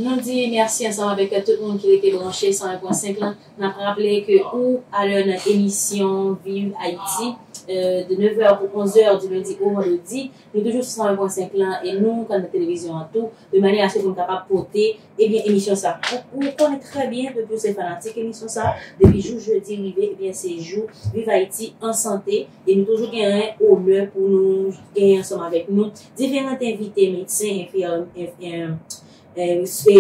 Nou di merci ansanm avèk tout moun ki rete branche 101.5 lan. Nap raple ke ou a lè nan emisyon Viv Ayiti de 9 è pou 11 è di lendi o vandredi. Nou toujou sou 101.5 lan e nou kan nan televizyon an tou de manye aske pou nou kapab pote ebyen emisyon sa. Ou konnen trè byen ke pou se fanatik emisyon sa depi jou jedi rive ebyen se jou Viv Ayiti an sante. E nou toujou gen ren onè pou nou genyen ansanm avèk nou diferant envite, medsen, enfimyè,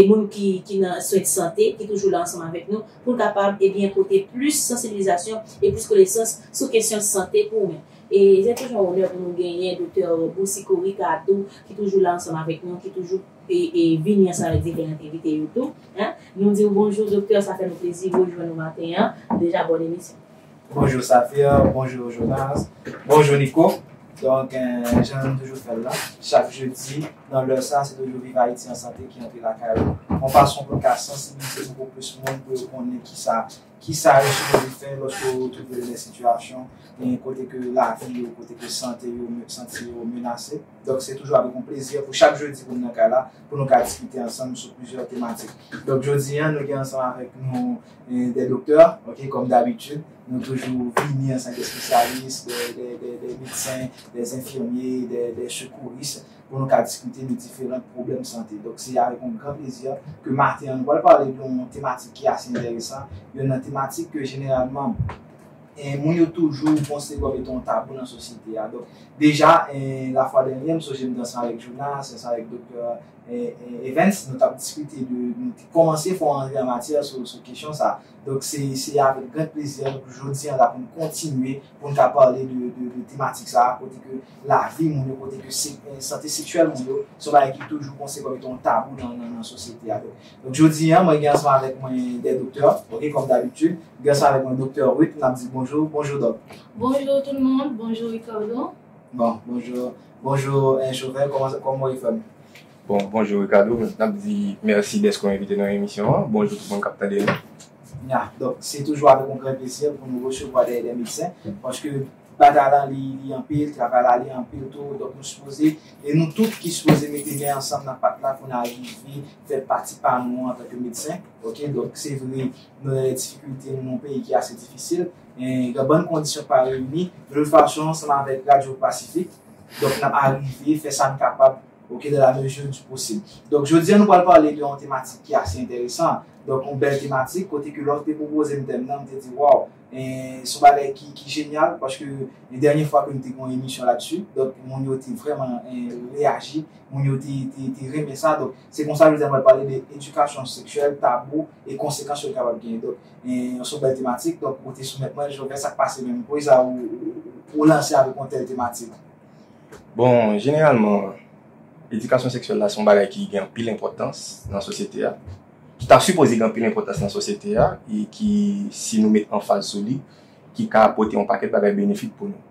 moun ki nan swen de sante ki toujou la ansanm avèk nou pou n kapab ebyen pote plis sansibilizasyon e plis konesans sou kesyon sante pou ren. E se toujou yon onè pou nou genyen Doktè Boucicaut Ricard tou ki toujou la ansanm avèk nou, ki toujou vini ansanm avèk diferant envite yo tou. Nou di w bonjou Doktè, sa fè nou plezi rejwenn ou maten an. Deja bòn emisyon. Bonjour Saphir, bonjour Jonas, bonjour Nico Donk jan nou toujou fè l la, chak jedi nan lè sa se toujou Viv Ayiti an Sante ki antre lakay ou yon fason pou n ka sansibilize poko plis moun pou yo konnen kisa kisa yo sipoze fè lòske yo twouve yo nan sitiyasyon yon kote ke lavi yo, kote ke sante yo sante yo menase Donk se toujou avèk yon plezi pou chak jedi pou nou nan kay la pou nou ka diskite ansanm sou plizyè tematik Donk jodi an nou gen ansanm avèk nou Des docteurs ok comme d'habitude nou toujou vini ansanm des spécialistes des des des médecins des infirmiers des des secouristes pou nou ka diskite de diferant pwoblèm sante donk se avèk yon gran plezi ke maten an nou pral pale de yon tematik ki ase enteresan yonn nan tematik ke jeneralman moun yo toujou konsidere kòm etan yon tabou nan sosyete a donk deja la fwa dènyè m sonje m te ansanm avèk Jonas te ansanm avèk doktè Evens, nou t ap diskite de, nou te kòmanse fè yon antre an matyè sou kesyon sa a. Donk se avèk gran plezi an pou jodi an la pou n kontinye, pou n ka pale de tematik sa a kote ke lavi moun yo, kote ke sante seksyèl moun yo se yon bagay ki toujou konsidere kòm etan yon tabou nan sosyete a. Donk jodi an mwen gen ansanm avèk mwen 2 doktè ok kòm dabitid. M gen ansanm avèk mwen doktè Ruth, n ap di bonjou. Bonjou dòk. Bonjou tout moun. Bonjou Ricardo. Bon bonjour bonjour jovel koman ou ye frem. Bon bonjour Ricardo nap di merci deske ou envite nan emisyon an bonjour tout moun kap tande nou. Ya donk se toujou avek yon gran plezi pou nou resevwa de de medsen paske batay la li anpil travay la li anpil tou donk nou sipoze e nou tout ki sipoze mete men ansanm nan pat la pou nou arive fè pati pa nou antanke medsen ok donk se vre nou nan yon difikilte nou nan yon peyi ki ase difisil Gen yon bann kondisyon k pa reyini. Menm fason ansanm avèk Radyo Pasifik, donk n ap arive fè sa n kapab ok dans la mesure du possible. Donk jodi a nou pral pale de yon tematik ki ase enteresan, donk yon bèl tematik kote ke lè w te pwopoze m tèm nan m te di waw se yon bagay ki jenyal paske dènye fwa ke m te gen yon emisyon ladsu donk moun yo te vrèman reyaji, moun yo te renmen sa donk se konsa jodi a m pral pale de edikasyon seksyèl, tabou e konsekans yo kapab genyen. Yon son bèl tematik, donk ou te soumèt mwen, Joven sak pase menm, poukisa sa ou lanse avèk yon tèl tematik? Bon, jeneralman, edikasyon seksyèl la se yon bagay ki gen anpil enpòtans nan sosyete a, ki ta sipoze gen anpil enpòtans nan sosyete a, e ki, si nou met anfaz sou li, ki ka pote yon pakèt bagay benefik pou nou.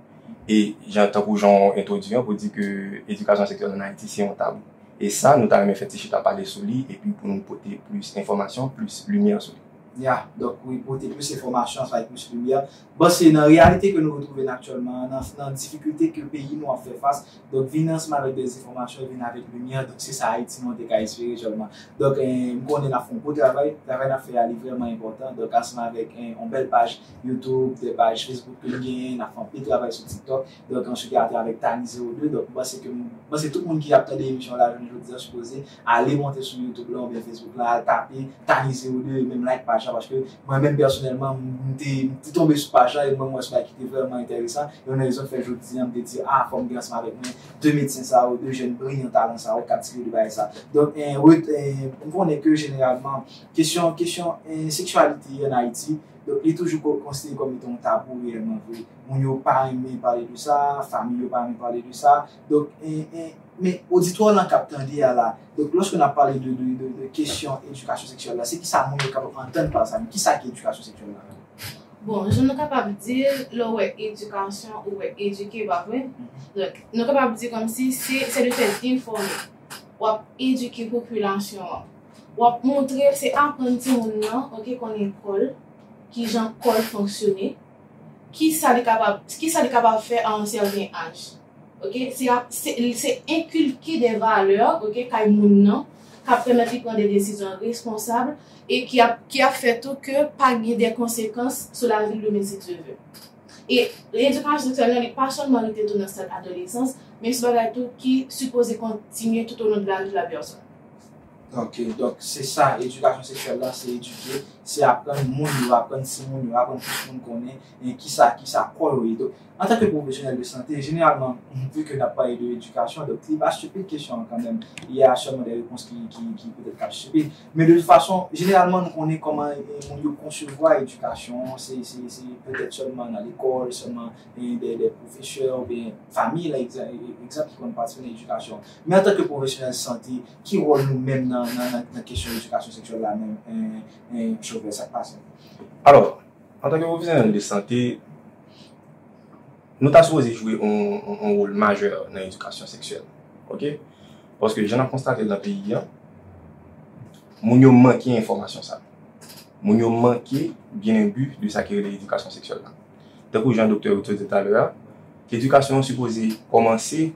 E, jan, tankou jan ou entwodui an, pou di ke edikasyon seksyèl an Ayiti se yon tabou. E sa, nou ta renmen fè ti chita pale sou li, epi pou nou pote plis enfòmasyon, plis limyè sou li. Ya, donk wi pote plis enfòmasyon ansanm ak plis limyè. Bon se nan reyalite ke nou retwouve n aktyèlman an, nan nan difikilte ke peyi nou ap fè fas, donk vini ansanm avèk de zenfòmasyon, vini avèk limyè, donk se sa Ayiti nou an te ka espere sèlman. Donk m konnen n ap fè yon gwo travay, travay n ap fè a li vrèman enpòtan, donk ansanm avèk yon bèl paj YouTube, de paj Facebook ke n genyen, n ap fè anpil travay sou TikTok, donk answit atravèk Tani 02, donk m panse ke m panse tout moun ki ap tande emisyon la jounen jodi a sipoze Ale monte sou YouTube la oubyen Facebook la al tape Thanie 02 e menm like paj la paske mwen menm pèsonèlman m te tonbe sou paj la e mwen m wè se bagay ki te vrèman enteresan e youn nan rezon ki fè jodi an m te di a fòk m gen ansanm avèk mwen 2 medsen sa yo 2 jèn briyan talan sa yo k ap tire de bagay sa donk m konnen ke jeneralman kesyon kesyon seksyalite an Ayiti donk li toujou konsidere kòm etan yon tabou reyèlman vre moun yo pa renmen pale de sa fanmi yo pa renmen pale de sa. Donk men oditwa lan kap tande a la, donk lòske nap pale de kesyon edikasyon seksyèl la, se kisa moun yo kapab antann pa sa menm? Kisa ki edikasyon seksyèl la menm? Bon, jan nou kapab di l, lè w wè edikasyon, ou wè edike, pa vre? Donk, nou kapab di kòmsi se se le fèt enfòme. Wap edike popilasyon an. Wap montre, se aprann timoun nan, ok, konnen kò l, kijan kò l fonksyone. Ki sa li kapab, ki sa li kapab fè a yon sèten aj. Ok, se ap, se, se enkilke de valè, ok, kay moun nan, k ap pèmèt li pran de desizyon responsab e ki ap, ki ap fè tou ke pa gen de konsekans sou lavi l yo menm si Dye vle. E edikasyon seksyèl la, li pa sèlman rete tou nan stad adolesans, men se bagay tou ki sipoze kontinye toutolon de lavi lapèsòn. Ok donk se sa edikasyon seksyèl la se edike se aprann moun yo aprann timoun yo aprann tout moun konnen e kisa kisa kò yo ye donk antanke pwofesyonèl de sante jeneralman vu ke nap pale de edikasyon donk li pa stupid kesyon an kanmenm li ya sèlman de repons ki ki petèt kap stupid men de tout fason jeneralman nou konnen kòman moun yo konsevwa edikasyon an se se se petèt sèlman nan lekòl sèlman e de de pwofesè oubyen fanmi la egzan ki konn patisipe nan edikasyon men antanke pwofesyonèl sante Ki wòl nou menm nan kesyon edikasyon seksyèl la menm Chofè? Sa k pase? Alò, antanke pwofesyonèl de sante, nou ta sipoze jwe yon wòl majè nan edikasyon seksyèl. Ok? Paske jan n ap konstate l nan peyi an, moun yo manke enfòmasyon sa. Moun yo manke byen enbi de sa ki rele edikasyon seksyèl la. Tankou jan doktè yo te di talè a. Edikasyon an sipoze kòmanse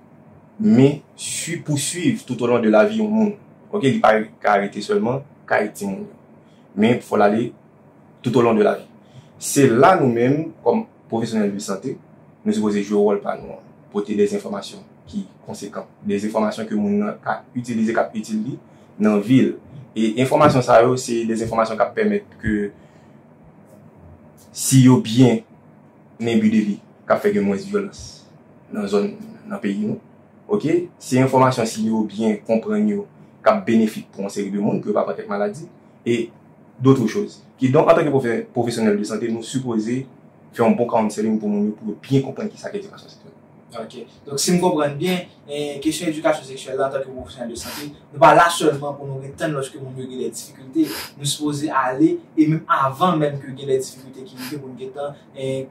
men sui pouswiv toutolon de lavi yon moun ok li pa ka rete sèlman kay timoun yo men fòl ale toutolon de lavi se la nou menm kòm pwofesyonèl de sante nou sipoze jwe wòl pa nou an pote de enfòmasyon ki konsekan de enfòmasyon ke moun nan ka itilize kap itil li nan vil e enfòmasyon sa yo se de enfòmasyon kap pèmèt ke si yo byen Nen but de li kap fè gen mwens vyolans nan zòn nan peyi nou ok se enfòmasyon si yo byen konprann yo kap benefik pou yon seri de moun pou yo pa pran kèk maladi e dotre choz kidonk antanke pwofesyonèl de sante nou sipoze fè yon bon counseling pou moun yo pou yo byen konprann kisa k edikasyon seksyèl. Ok, donk si m konprann byen, kesyon edikasyon seksyèl la antanke pwofesyonèl de sante, nou pa la sèlman pou nou ret tann lòske moun yo gen dè difikilte, nou sipoze ale e menm avan menm ke gen dè difikilte ki rive pou nou gentan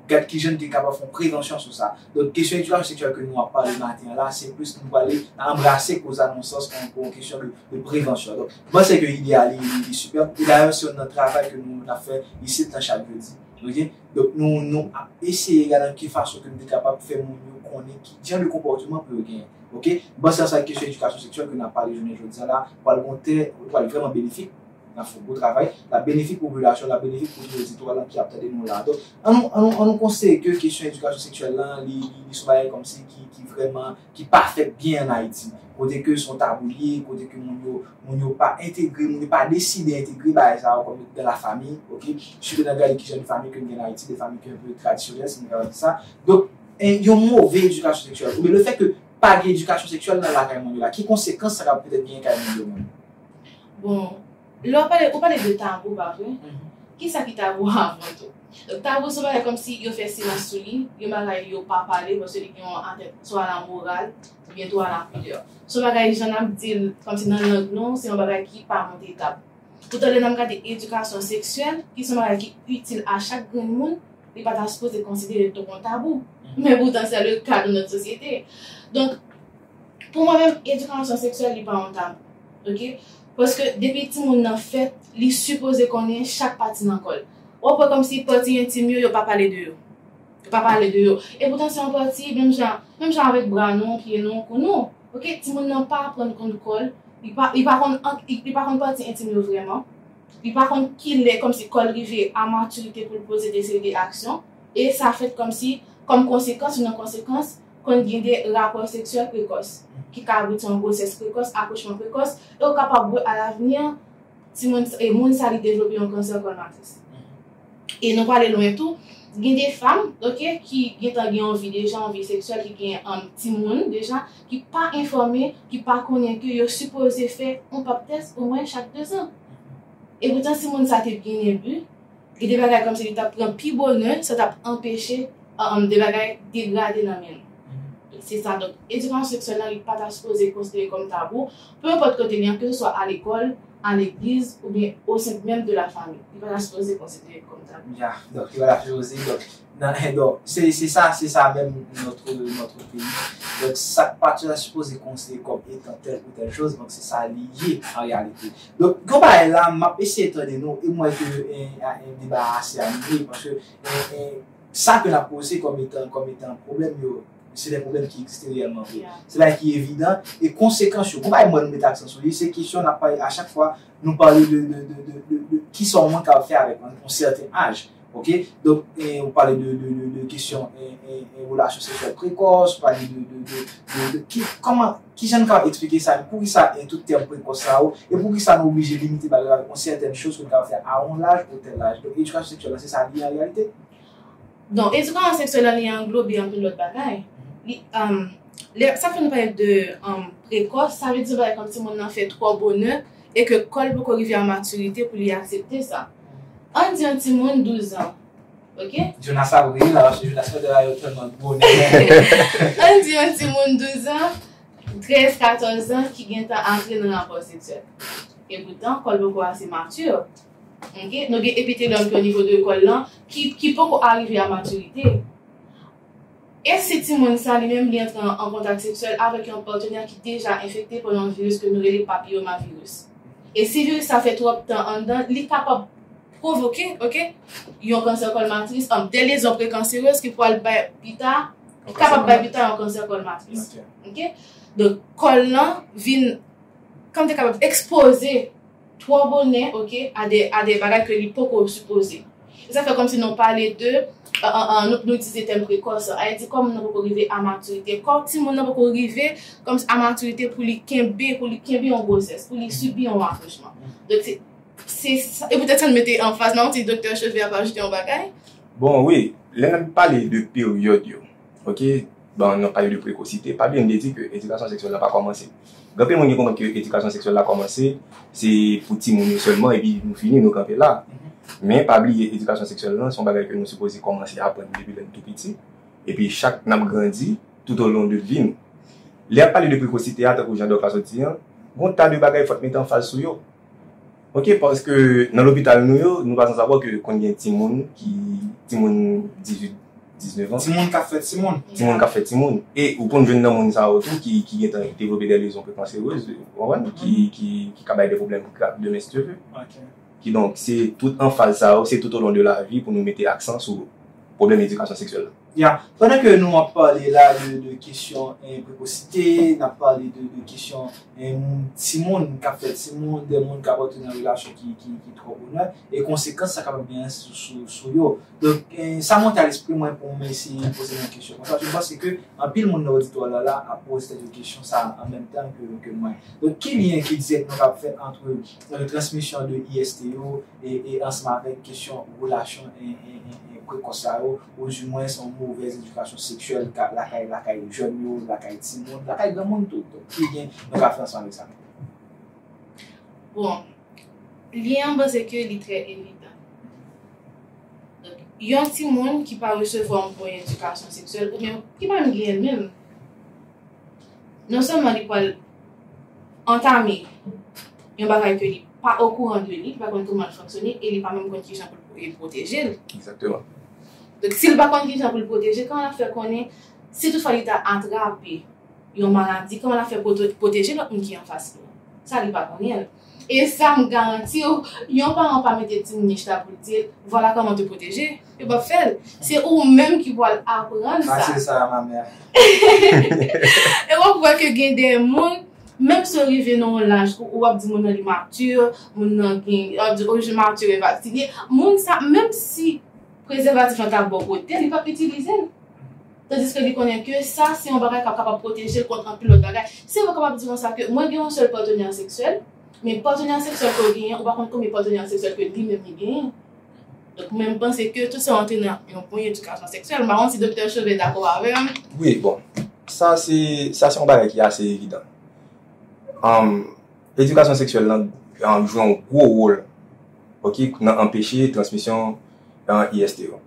gad kijan nou te kapab fè yon prevansyon sou sa. Donk kesyon edikasyon seksyèl ke nou ap pale maten an la, se plis nou pwale nan anbrase koz la nan yon sans pou yon kesyon de prevansyon. Donk, m panse ke ide a li sipèb e dayè se youn nan travay ke nou ap fè isit nan chak jodi. Ok. Donk nou nou ap eseye gad an ki fason ke nou te kapab fè moun yo konnen ki jan de konpòteman pou yo genyen. Ok. M panse a sa ki kesyon edikasyon seksyèl ke n ap pale jounen jodi a la pral gon tè, li pral vrèman benefik, n ap fè yon gwo travay, l ap benefik popilasyon, l ap benefik moun ki nan zistwa lan ki ap tande nou la. Donk an nou an nou an nou konseye ke kesyon edikasyon seksyèl lan li li son bagay kòmsi ki ki vrèman ki pa fèt byen an Ayiti, kote ke son tabou li ye, kote ke moun yo, moun yo pa entegre, moun yo pa deside entegre bagay sa yo kòm dans la famille, ok, sitou nan gade ki jan de fanmi ke nou gen nan Ayiti, de fanmi ki un peu tradisyonèl si nou kapab di sa, donk yon move edikasyon seksyèl, oubyen le fèt ke pa gen edikasyon seksyèl nan lakay moun yo la, ki konsekans sa kapab petèt genyen kay moun yo menm? Bon, Lè w pale, ou pale de tabou pa vre? Ki sa ki tabou avan tou? Donk tabou se yon bagay kòm si yo fè silans sou li, yon bagay yo pa pale paske li gen yon atè swa a la moral oubyen tou a la pidè. Se yon bagay jan n ap di l kòm si nan lang nou, se yon bagay ki pa monte tab. Poutan lè n ap gade edikasyon seksyèl ki se yon bagay ki itil a chak grenn moun, li pa ta sipoze konsidere tou kon tabou. Men poutan sè le ka de nòt sosyete. Donk, pou mwen menm edikasyon seksyèl li pa yon tabou. Ok? Paske depi timoun nan fèt li sipoze konnen chak pati nan kò l. Wap wè kòmsi pati entim yo yo pa pale de yo. Yo pa pale de yo. Epoutan se yon pati menm jan menm jan avèk bra nou, pye nou, kou nou. Ok timoun nan pa aprann konn kò l, li pa li pa konn ank li pa konn pati entim yo vrèman. Li pa konn kilè kòmsi kò l rive a matirite pou l poze de seri de aksyon e sa fèt kòmsi kòm konsekans youn nan konsekans Konn gen de rapò seksyèl prekòs, ki ka abouti an gwosès prekòs, akouchman prekòs, e ou kapab wè alavni an, timoun sa, e moun sa li devlope yon kansè kòl matris. E nou pale lwen tou, gen de fanm, ok, ki gentan gen yon vi deja, yon vi seksyèl, ki gen an timoun deja, ki pa enfòme, ki pa konnen ke yo sipoze fè yon pap tès omwen chak dezan. E poutan si moun sa te byen elbe, Gen de bagay kòmsi li t ap pran pi bonè, sa t ap anpeche de bagay degrade nan men l. Se sa, donk, edikasyon seksyèl la, li pa ta sipoze konsidere kòm tabou, pe enpòt kote li an, keseswa a lekòl, a legliz oubyen osent menm de lafanmi. Li pa ta sipoze konsidere kòm tabou. Ya, donk, yo la filozofi, donk, Nan edo. Se se sa se sa menm notre notre peyi. Donk sak pa ta sipoze konsidere kòm etan tèl ou tèl choz donk se sa li ye an reyalite. Donk gen yon bagay la map eseye tande nou e m wè ke en deba a ase anime paske en sa ke nap poze kòm etan kòm etan pwoblèm yo se de pwoblèm ki egziste reyèlman vre. Se bagay ki evidan e konsekans yo. Gon bagay m wè nou mete aksan sou li se kesyon nap pale a chak fwa Nou pale de kisa yon moun kapab fè avèk yon moun sèten aj. Ok, donk ou pale de kesyon relasyon seksyèl prekòs, ou pale de kòman, kijan nou kapab eksplike sa, poukisa gen tout tèm prekòs sa yo, e poukisa nou oblije limite bagay yo avèk yon sèten chòz ke nou kapab fè a yon laj ou tèl laj. Donk edikasyon seksyèl la se sa li ye an reyalite? Donk, edikasyon seksyèl la li anglobe anpil lòt bagay. Li, um, lè, sa fè nou pale de um, prekòs, sa vle di bagay kòm timoun nan fè twò bonè e ke kò l poko rive a matirite pou li aksepte sa. Ann di yon timoun 12 an, ok? Jonas ap ri la, paske Jonas fè bagay yo tèlman bonè. Ann di yon timoun 12 an, 13, 14 an ki gentan antre nan rapò seksyèl. E poutan, kò l poko ase matir. Ok nou gen epitelòm ki o nivo de kòl lan ki poko arive a matirite e si timoun sa li menm li antre an kontak seksyèl avèk yon patenè ki deja enfekte pa yon viris ke nou rele papiyomaviris e si viris sa fè twòp tan anndan li kapab pwovoke ok yon kansè kòl matris an de lezyon prekanserez ki pwal bay pita ki kapab bay pita yon kansè kòl matris ok donk kòl lan vin kòm te kapab ekspoze. Twò bonè ok a de a de bagay ke li poko sipoze. E sa fè kòm si nou pale de nou nou itilize tèm prekòs an. Ayiti kò moun nan poko rive a matirite. Kò ti moun nan poko rive kòm si a matirite pou li kenbe pou li kenbe yon gwosès, pou li sibi yon akouchman. Donk se se sa e poutèt sa nou mete anfaz nan. Ti doktè Chauvet ap ajoute yon bagay? Bon wi, lè n ap pale de peryòd yo, Ok ban nan pale de prekosite pa byen vle di ke edikasyon seksyèl la pa kòmanse gen anpil moun ki konprann ke edikasyon seksyèl la kòmanse se pou timoun yo sèlman epi nou fini nou kanpe la men pa bliye edikasyon seksyèl lan se yon bagay ke nou sipoze kòmanse aprann depi lè nou tou piti epi chak nap grandi toutolon de vi nou lè yap pale de prekosite a tankou jan dòk la sot di an gon ta de bagay fòk mete anfaz sou yo. Ok paske nan lopital nou yo nou pa san savo ke konn gen timoun ki timoun 18 19 ans. Timoun kap fè timoun. Timoun kap fè timoun. E ou konn jwenn nan moun sa yo tou ki ki gentan devlope dè lezyon prekanserez ou konprann ki ki ki ka bay dè pwoblèm grav demen si Dye ve. Ok. Kidonk se tout anfaz sa yo se toutolon de lavi pou nou mete aksan sou pwoblèm edikasyon seksyèl la. Ya, pandan ke nou ap pale la de kesyon prekosite, n ap pale de kesyon timoun k ap fè timoun, de moun k ap antre nan relasyon ki twò bonè, e konsekans sa kapab genyen sou yo. Donk, sa monte a lespri mwen pou mwen eseye poze yon kesyon konsa. Je panse ke anpil moun nan oditwa la ap poze tèt yo kesyon sa a an menm tan ke mwen. Donk, ki lyen ki dirèk nou kapab fè antre transmisyon de IST yo e ansanm avèk kesyon relasyon prekòs sa yo? Ozimwen se yon movèz edikasyon seksyèl ka lakay lakay jèn yo, lakay timoun, lakay granmoun tou. Donk ki lyen nou ka fè ansanm avèk sa? Bon, lyen an mwen se ke li trè evidan. Donk, yon timoun ki pa resevwa yon bon edikasyon seksyèl oubyen ki pa menm genyen l menm, non sèlman li pral antame yon bagay ke li. pa okouran de li, li pa konnen kouman l fonksyone e li pa menm konn kijan pou l pwoteje l. Egzakteman. Donk si l pa konn kijan pou l pwoteje, kòman l ap fè konnen si tout fwa li ta atrape yon maladi, kòman l ap fè pwoteje lòt moun ki anfas li an? Sa li pa konnen l. E sa m garanti w, yon paran pa mete timoun li chita pou l di l, vwala kòman te pwoteje. Yo pap fel. Se ou menm ki pwal aprann sa. Mase sa ma mère. E wap wè ke gen de moun menm si yo rive nan yon laj ou wap di moun nan li mature, moun nan gen, wap di oh je mature e pa sinye, moun sa menm si prezèvatif lan ta bon kote li pap itilize l. Tandiske li konnen ke sa se yon bagay kap kapab pwoteje l kont anpil lòt bagay. Se yo kapab di konsa ke mwen gen yon sèl patenè seksyèl, men patenè seksyèl ke w genyen ou pa konn konbyen patenè seksyèl ke li menm li genyen. Donk mwen m panse ke tout sa antre nan yon bon edikasyon seksyèl. M pa konn si Doktè Chauvet dakò avè m. Wi, bon. Sa se, sa se yon bagay ki ase evidan. Edikasyon seksyèl lan jwe yon gwo wol ok nan anpeche transmisyon IST yo.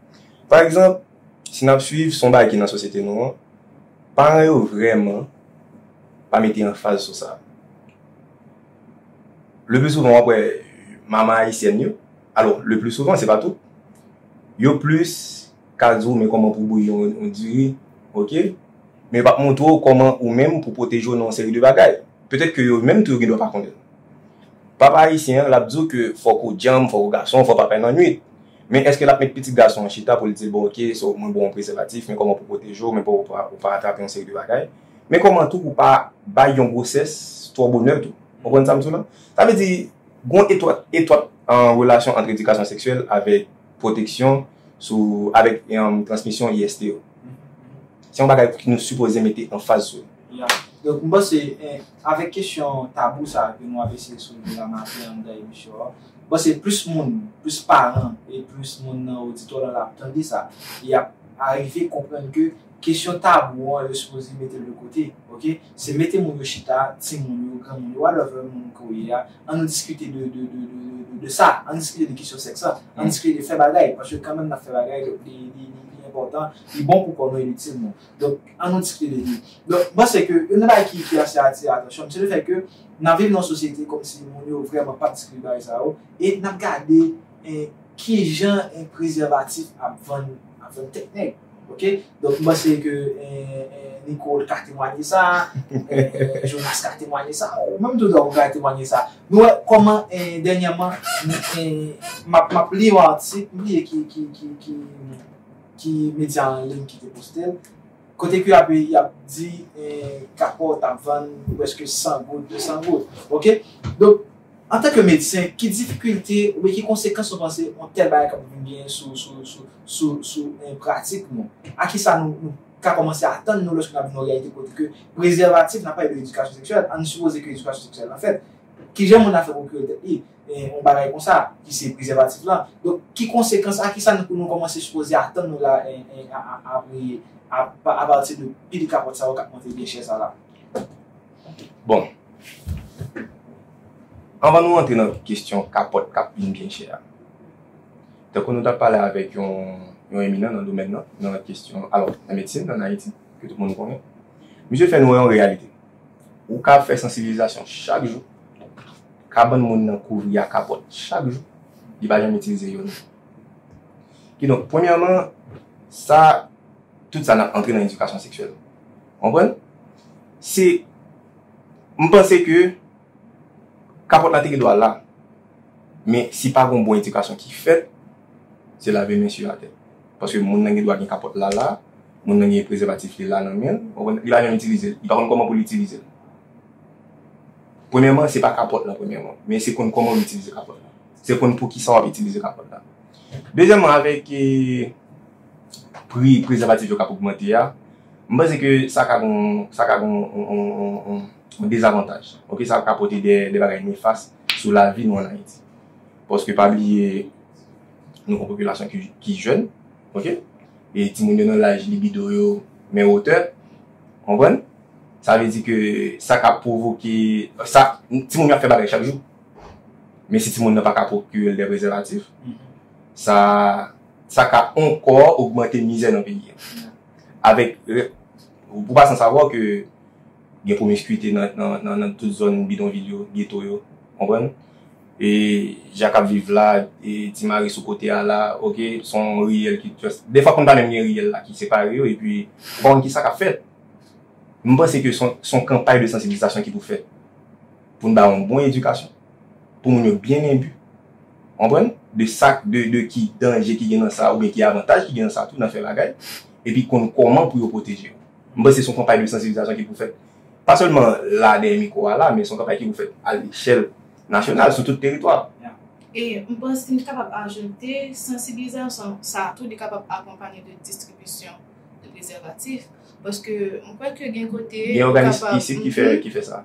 Pa egzanp, si n ap suiv, se yon bagay ki nan sosyete nou an, paran yo vrèman pa mete anfaz sou sa. Le pli souvan w ap wè manman ayisyèn yo. Alò, le pli souvan, se pa tout, yo plis ka di ou men kòman pou bouyi yon diri, ok, men yo pap montre ou kòman ou menm pou pwoteje ou nan yon seri de bagay. Petèt ke yo menm tou yo gen dwa pa konnen. Papa ayisyen an, lap di ou ke fòk ou djanm, fòk ou gason, fòk pa pè nan nwit. Men eske lap met pitit gason an chita pou l di l, bon ok, so mwen ba w yon prezèvatif, men kòman pou pwoteje w, men pou ou pa atrape yon seri de bagay, men kòman tou pou pa bay yon gwosès twò bonè tou. Konprann sa m di w la? Sa vle di, Gon etwat etwat relasyon ant edikasyon seksyèl avèk pwoteksyon sou avèk transmisyon IST yo. Se yon bagay ki nou sipoze mete anfaz sou li. Ya. Donk m panse avèk kesyon tabou sa a ke nou ap eseye soulve la maten anndan emisyon an, m panse plis moun, plis paran e plis moun nan oditwa lan ap tande sa e y ap arive konprann ke, Kesyon tabou an yo sipoze metel de kote ok se mete moun yo chita timoun yo granmoun yo whatever moun ke w ye a an nou diskite de de de de sa an diskite de kesyon sèks la an diskite de fè bagay paske kanmenm nap fè bagay li li li li enpòtan li bon pou kò nou e li itil nou donk an nou diskite de li donk m panse ke youn nan bagay ki ki ase atire atansyon m se le fè ke nan viv nan yon sosyete kòmsi moun yo vrèman pap diskite de bagay sa yo e nap gade en kijan en prezèvatif ap vann ap vann tèt nèg. Ok donk m panse ke Nicole ka temwanye sa, Jonas ka temwanye sa, ou menm tou Doc ou ka temwanye sa. Nou wè kòman dènyèman m ap li yon atik, m bliye ki medya an liy ki te poste l, kote ke y ap di kapòt ap vann prèske 100 goud, 200 goud. Ok donk. Antanke medsen, ki difikilte oubyen ki konsekans nou panse yon tèl bagay kab vin genyen sou pratik nou? A kisa nou ka kòmanse atann nou lòske n ap viv nan yon reyalite kote ke prezèvatif, n ap pale de edikasyon seksyèl, ann sipoze ke edikasyon seksyèl la fèt, kijan moun ap fè pwokire tèt li yon bagay konsa ki se prezèvatif la? Donk, ki konsekans, a kisa nou kòmanse sipoze atann nou la apati de pil kapòt sa yo k ap monte byen chè sa la? Bon, anvan nou antre nan kestyon kapòt k ap vin byen chè a, tankou nou t ap pale avèk yon eminan nan domèn nan, nan kestyon, alò, nan medsin ann Ayiti, ke tout moun konnen, misye fè nou wè yon reyalite. Ou ka fè sansibilizasyon chak jou, kabann moun nan kouvri a kapòt chak jou, li pa janm itilize youn. Kidonk, premyèman, sa. Tout sa nan antre nan edikasyon seksyèl. Konprann? Se M panse ke kapòt la te gen dwa la. Men si pa gon bon edikasyon ki fèt, se lave men su atè. Paske moun nan gen dwa gen kapòt la la, moun nan gen prezèvatif li la nan men l, konprann? Li pa janm itilize l. Li pa konn kòman pou l itilize l. Premyèman, se pa kapòt la premyèman. Men se konn kòman ou itilize kapòt la. Se konn poukisa w ap itilize kapòt la. Dezyèmman, avèk. pri prezèvatif yo k ap ogmante a, m panse ke sa ka gen sa ka gen yon dezavantaj. Ok sa ka pote dè bagay nefas sou lavi nou an Ayiti. Paske pa bliye nou gon popilasyon ki jèn ok e timoun yo nan laj libido yo men wotè konprann sa vle di ke sa ka pwovoke sa timoun yo ap fè bagay chak jou men si timoun nan pa ka pwokire l dè prezèvatif sa Sa ka ankò ogmante mizè nan peyi an. Avèk Ou pa san savwa ke gen pwomiskuite nan tout zòn bidonvil yo, geto yo. Konprann? E jan k ap viv la, e ti mari sou kote a la, ok, s on riyèl ki just. Dèfwa konn pa menm gen riyèl la ki separe yo, epi ou pa konn ki sa k ap fèt. M panse ke s on kanpay de sansibilizasyon ki pou fèt. Pou n bay yon bon edikasyon. Pou moun yo byen enbi. Ou konprann? De sa k, de, de ki danje ki gen nan sa oubyen ki avantaj ki gen nan sa tou, nan fè bagay. Epi konn kòman pou yo pwoteje yo. M panse se yon kanpay de sansibilizasyon ki pou fèt. Pa sèlman la dèyè mikwo a la, men se yon kanpay ki pou fèt a lechèl nasyonal, sou tout teritwa a. Ya. E m panse m kapab ajoute, sansibilizasyon sa a tou li kapab akonpanye de distribisyon de prezèvatif. Paske m kwè ke gen kote. Gen òganis isit ki fè, ki fè sa.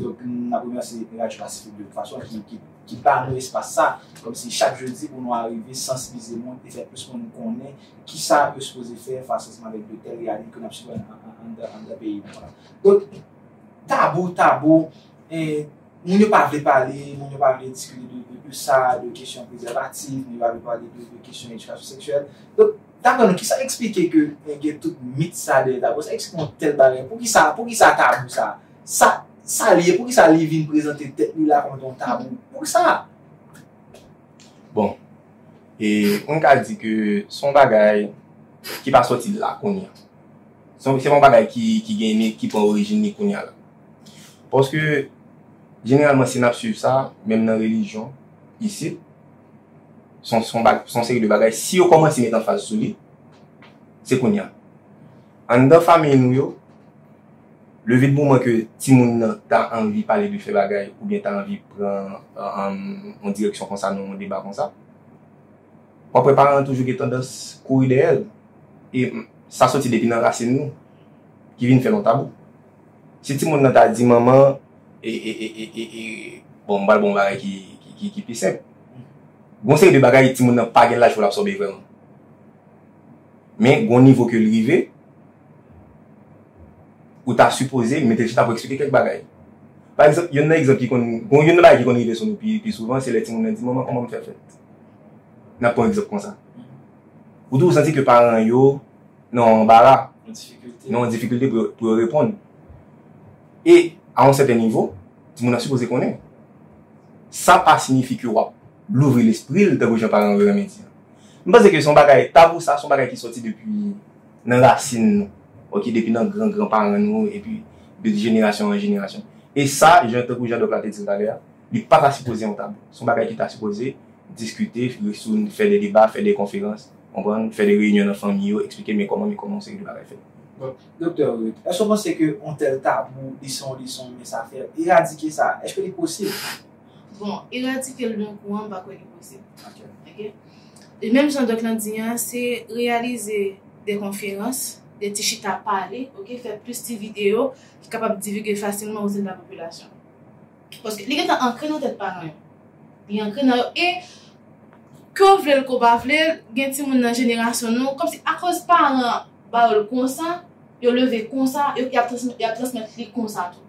Donk n ap remèsye Radyo Pasifik de tout fason ki ba nou espas sa kòm si chak jedi pou nou arive sansibilize moun e fè plis moun konnen ki sa yo sipoze fè fasosman avèk de tèl reyalite ke n ap sibi anndan peyi nou an. Donk tabou, tabou, moun yo pa vle pale, moun yo pa vle diskite de sa, de kesyon prezèvatif, moun yo pa vle pale de kesyon edikasyon seksyèl. Donk dapre nou ki sa eksplike ke gen tout mit sa dèyè tabou sa? Eksplike yon tèl bagay, poukisa tabou sa? Sa sa li ye? Poukisa li vin prezante tèt li la kòm yon tabou? Poukisa? Bon, e m ka di ke se yon bagay ki pa sòti la kounye a. Se yon se pa yon bagay ki ki gen ni ki pran orijin ni kounye a la. Paske jeneralman si n ap suiv sa, menm nan relijyon isit, se yon se yon ba se yon seri de bagay si yo kòmanse met anfaz sou li, se kounye a. Anndan fanmiy nou yo Leve de moman ke timoun nan ta anvi pale de fè bagay oubyen ta anvi pran yon direksyon konsa nan yon deba konsa. W ap wè paran an toujou gen tandans kouri dèyè l. E sa soti depi nan rasin nou ki vin fè l yon tabou. Si timoun nan ta di manman e, e, e, e, e, e, bon m pral ba w yon bagay ki pi senp. Gen yon seri de bagay timoun nan pa gen laj pou l absòbe vrèman. Men gen yon nivo ke l rive. Ou ta sipoze mete chita pou eksplike kèk bagay. Pa egzanp, youn nan egzanp ki konn, gon youn nan bagay ki konn rive sou nou pi pi souvan se lè timoun nan di manman kòman m fè fèt? Nan pran egzanp konsa. Ou toujou santi ke paran yo nan yon anbara, nan yon difikilte pou yo reponn. E a yon sèten nivo, timoun nan sipoze konnen. Sa pa sinyifi ke w ap louvri lespri l tankou jan paran yo renmen di an. M panse ke se yon bagay tabou sa, se yon bagay ki sòti depi. nan rasin nou ok depi nan gran gran paran nou epi de jenerasyon an jenerasyon e sa jan tankou jan dòk la te dil talè a li pata sipoze yon tabou son bagay ki ta sipoze diskite sou li fè de deba fè de konferans konprann fè de reyinyon nan fanmi yo eksplike men kòman men kòman yon seri de bagay fèt. Bon Doktè Ruth èske w panse ke yon tèl tabou li se yon leson men sa fè eradike sa èske li posib? Bon, eradike l d'un kou an m pa kwè li posib. Ok. E menm jan dòk lan di an, se reyalize de konferans, de ti chita pale, ok, fè plis ti videyo ki kapab divigue fasilman o sen de la popilasyon. Paske li gentan ankre nan tèt paran yo. Li ankre nan yo e ke w vle l ke w pa vle l, gen timoun nan jenerasyon nou, kòm si akoz paran an ba yo l konsa, yo leve konsa, y ap transmèt li konsa tou.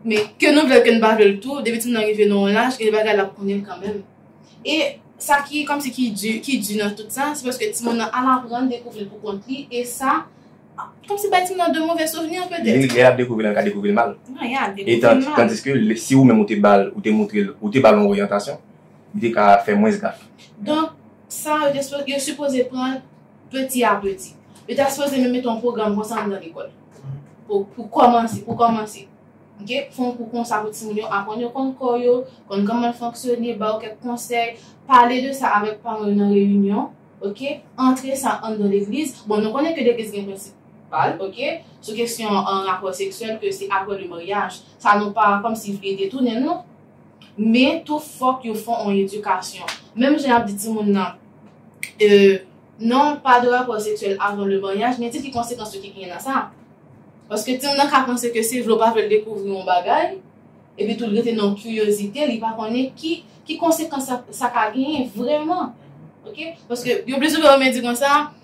Men, ke nou vle l ke nou pa vle l tou, depi timoun nan rive nan yon laj, gen de bagay l ap konnen l kanmenm. E sa ki kòmsi ki di, ki di nan tout sa, se paske timoun nan al aprann dekouvri l pou kont li e sa kòmsi bay timoun nan de move souvni an petèt. Li, lè y ap dekouvri l an, l ka dekouvri l mal. Nan, y a dekouvri l mal. E tandiske, si ou menm ou te ba l, ou te montre l, ou te ba l yon oryantasyon, li te ka fè mwens gaf. Donk, sa yo, yo sipoze pran. Peti a peti. Yo ta sipoze menm mete yon pwogram konsa anndan lekòl. Pou kòmanse, pou kòmanse. Ok? Fè yon kou konsa pou timoun yo aprann yo konn kò yo, konn kòman l fonksyone, ba yo kèk konsèy. Pale de sa avèk paran yo nan reyinyon. Ok? Antre sa anndan legliz. Bon, nou konnen ke legliz gen prensip pa l, ok? Sou kesyon rapò seksyèl ke se aprè le maryaj. Sa nou pa kòmsi vle detounen l, non. Men tou fòk yo fon on edikasyon. Menm jan yap di timoun nan e non pa de rapò seksyèl avan le maryaj men di ki konsekans yo ki genyen nan sa. Paske timoun nan ka panse ke se vle ou pa vle l dekouvri on bagay epi tou l rete nan kiryozite li pa konnen ki ki konsekans sa ka genyen vrèman ok paske yo plis souvan menm di konsa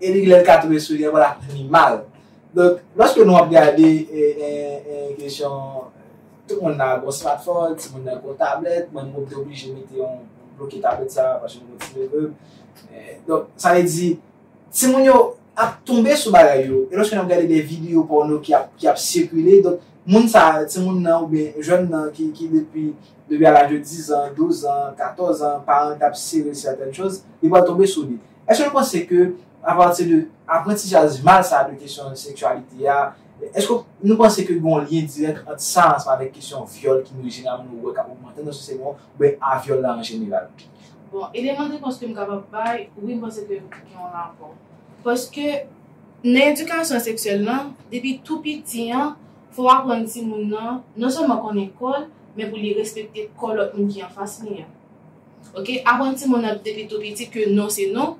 Epi lè l ka tonbe sou li ankò l ap vini mal. Donk, lòske nou ap gade kesyon tout moun nan gon smartphone, ti moun nan gon tablèt, mwen menm mwen te oblije mete yon bloke tablèt sa a paske m gen ti neveu m. Donk, sa vle di ti moun yo ap tonbe sou bagay yo. E lòske n ap gade de videyo pòno ki ap sikile, donk moun sa a, ti moun nan oubyen jèn nan ki depi a laj de dizan, douzan, katòzan, paran l t ap sere l sètèn choz, li pral tonbe sou li. Èske nou panse ke apati de aprantijaj mal sa de kesyon seksyalite a, èske nou panse ke gen yon lyen dirèk ant sa ansanm avèk kesyon vyòl ki nou jeneralman nou wè k ap ogmante nan sosyete nou an oubyen a vyòl la an jeneral? Bon, eleman de repons ke m kapab bay, wi m panse ke gen yon rapò. Paske nan edikasyon seksyèl lan, depi tou piti an, fò w aprann timoun nan non sèlman konnen kò l, men pou li respekte kò lòt moun ki anfas li an. Ok aprann timoun nan depi tou piti ke non se non,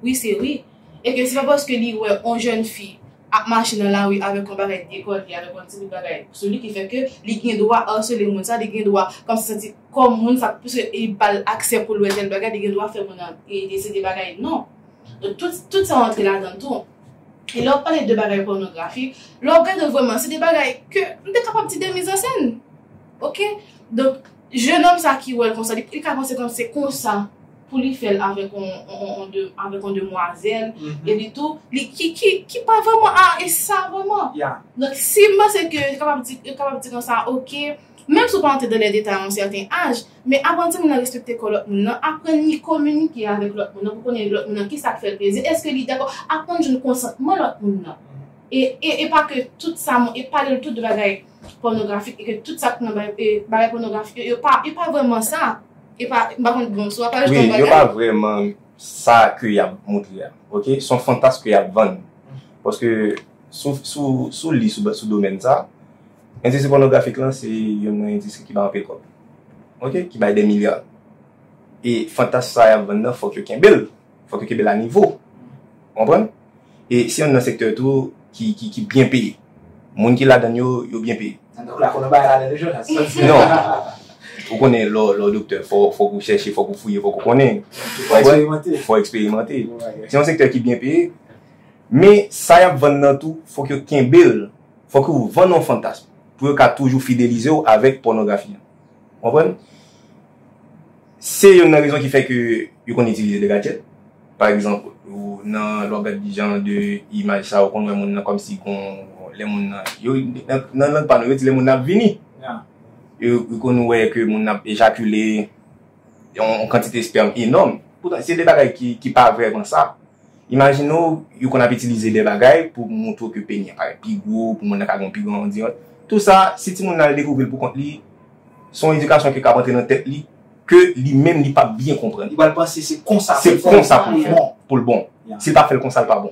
wi se wi e ke se pa paske li wè on jèn fi ap mache nan lari avèk on bagay dekòle, avèk on ti bout bagay sou li ki fè ke li gen dwa arsele moun sa, li gen dwa fè sa santi kò moun sa pwiske li ba l aksè pou l wè tèl bagay, li gen dwa fè moun nan dese de bagay, non. Donk tout sa rantre ladan tou. E lè w pale de bagay pònografi, lè w gade l vrèman se de bagay ke m te kapab di de mizansenn. Ok donk jenòm sa ki wèl konsa li ka panse kòm se konsa pou li fèl avèk yon demwazèl epi tou li ki pa vrèman a e sa vrèman donk si m panse ke yo kapab di yo kapab di konsa ok menm si w pa antre dan lè detay a yon sèten aj men aprann timoun nan respekte kò lòt moun nan aprann li kominike avèk lòt moun nan pou konnen lòt moun nan kisa k fèl plezi èske li dakò aprann jwenn konsantman lòt moun nan e pa ke tout sa e pale l tout bagay. pònografik e ke tout sa ki nan bagay pònografik yo, yo pa, yo pa vrèman sa. Yo pa, m pa konn, bon, sou ap ajoute yon bagay? Wi, yo pa vrèman sa ke y ap montre a, ok? S on fantas ke y ap vann. Paske sou, sou, sou li sou, sou domèn sa, endistri pònografik lan se youn nan endistri ki bay anpil kòb. Ok? Ki bay dè milya. E fantas sa y ap vann nan fòk yo kenbe l. Fòk yo kenbe l a nivo. Ou konprann? E se youn nan sektè tou ki byen peye. Moun ki ladan l yo, yo byen peye. Donk la konnen bagay ladan l yo Jonas, sa w di? Non. Ou konnen lè w doktè, fòk ou chèche, fòk ou fouye, fòk ou konnen. Fò w eksperimante. Fò w eksperimante. Se yon sektè ki byen peye. Men, sa y ap vann nan tou, fòk yo kenbe l. Fòk yo vann yon fantasm pou yo ka toujou fidelize w avèk pònografi an. Konprann? Se youn nan rezon ki fè ke yo konn itilize de gadjèt. Pa egzanp, ou nan, lè w ap gad jan de imaj sa, ou konn wè moun nan kòm si gon, lè moun nan, yo, nan lang pa nou, yo di lè moun nan ap vini. Ou konn wè ke moun nan ap ejakile. yon kantite espèm enòm. Poutan, se de bagay ki pa vrèman sa. Imajine w, yo konn ap itilize de bagay pou montre w ke peni an parèt pi gwo, pou moun nan ka gen yon pi gran andiyòt. Tou sa, si timoun nan al dekouvri l pou kont li, se yon edikasyon ki ka ap antre nan tèt li, ke li menm li pa p byen konprann. Li pral panse se konsa pou l fè l pou l bon. Si l pa fè l konsa, l pa bon.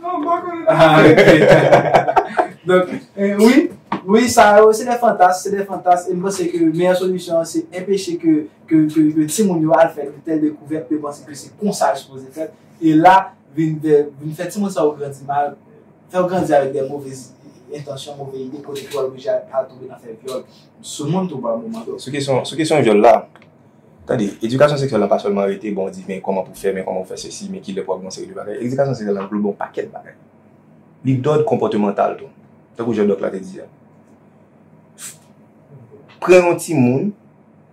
Mwen pa konnen nan. Ah ok. Donk, wi, wi sa yo se de fantas, se de fantas e m panse ke meyè solisyon an se enpeche ke timoun yo al fè de tèl dekouvèt ke yo panse ke se konsa l sipoze fèt e la vin de, vin fè timoun sa yo grandi mal, fè yo grandi avèk de move entansyon, move ide kote pou yo al oblije al tonbe nan fè vyòl sou moun tou pa moman. Sou kesyon vyòl la. Tande, edikasyon seksyèl la pa sèlman rete bon di men kòman pou fè, men kòman pou fè sesi, men kilè pou ap gen yon seri de bagay. Edikasyon seksyèl la anglobe yon pakèt bagay. Li dòd konpòtemantal tou, tankou jan dòk la te di a. Pran yon timoun,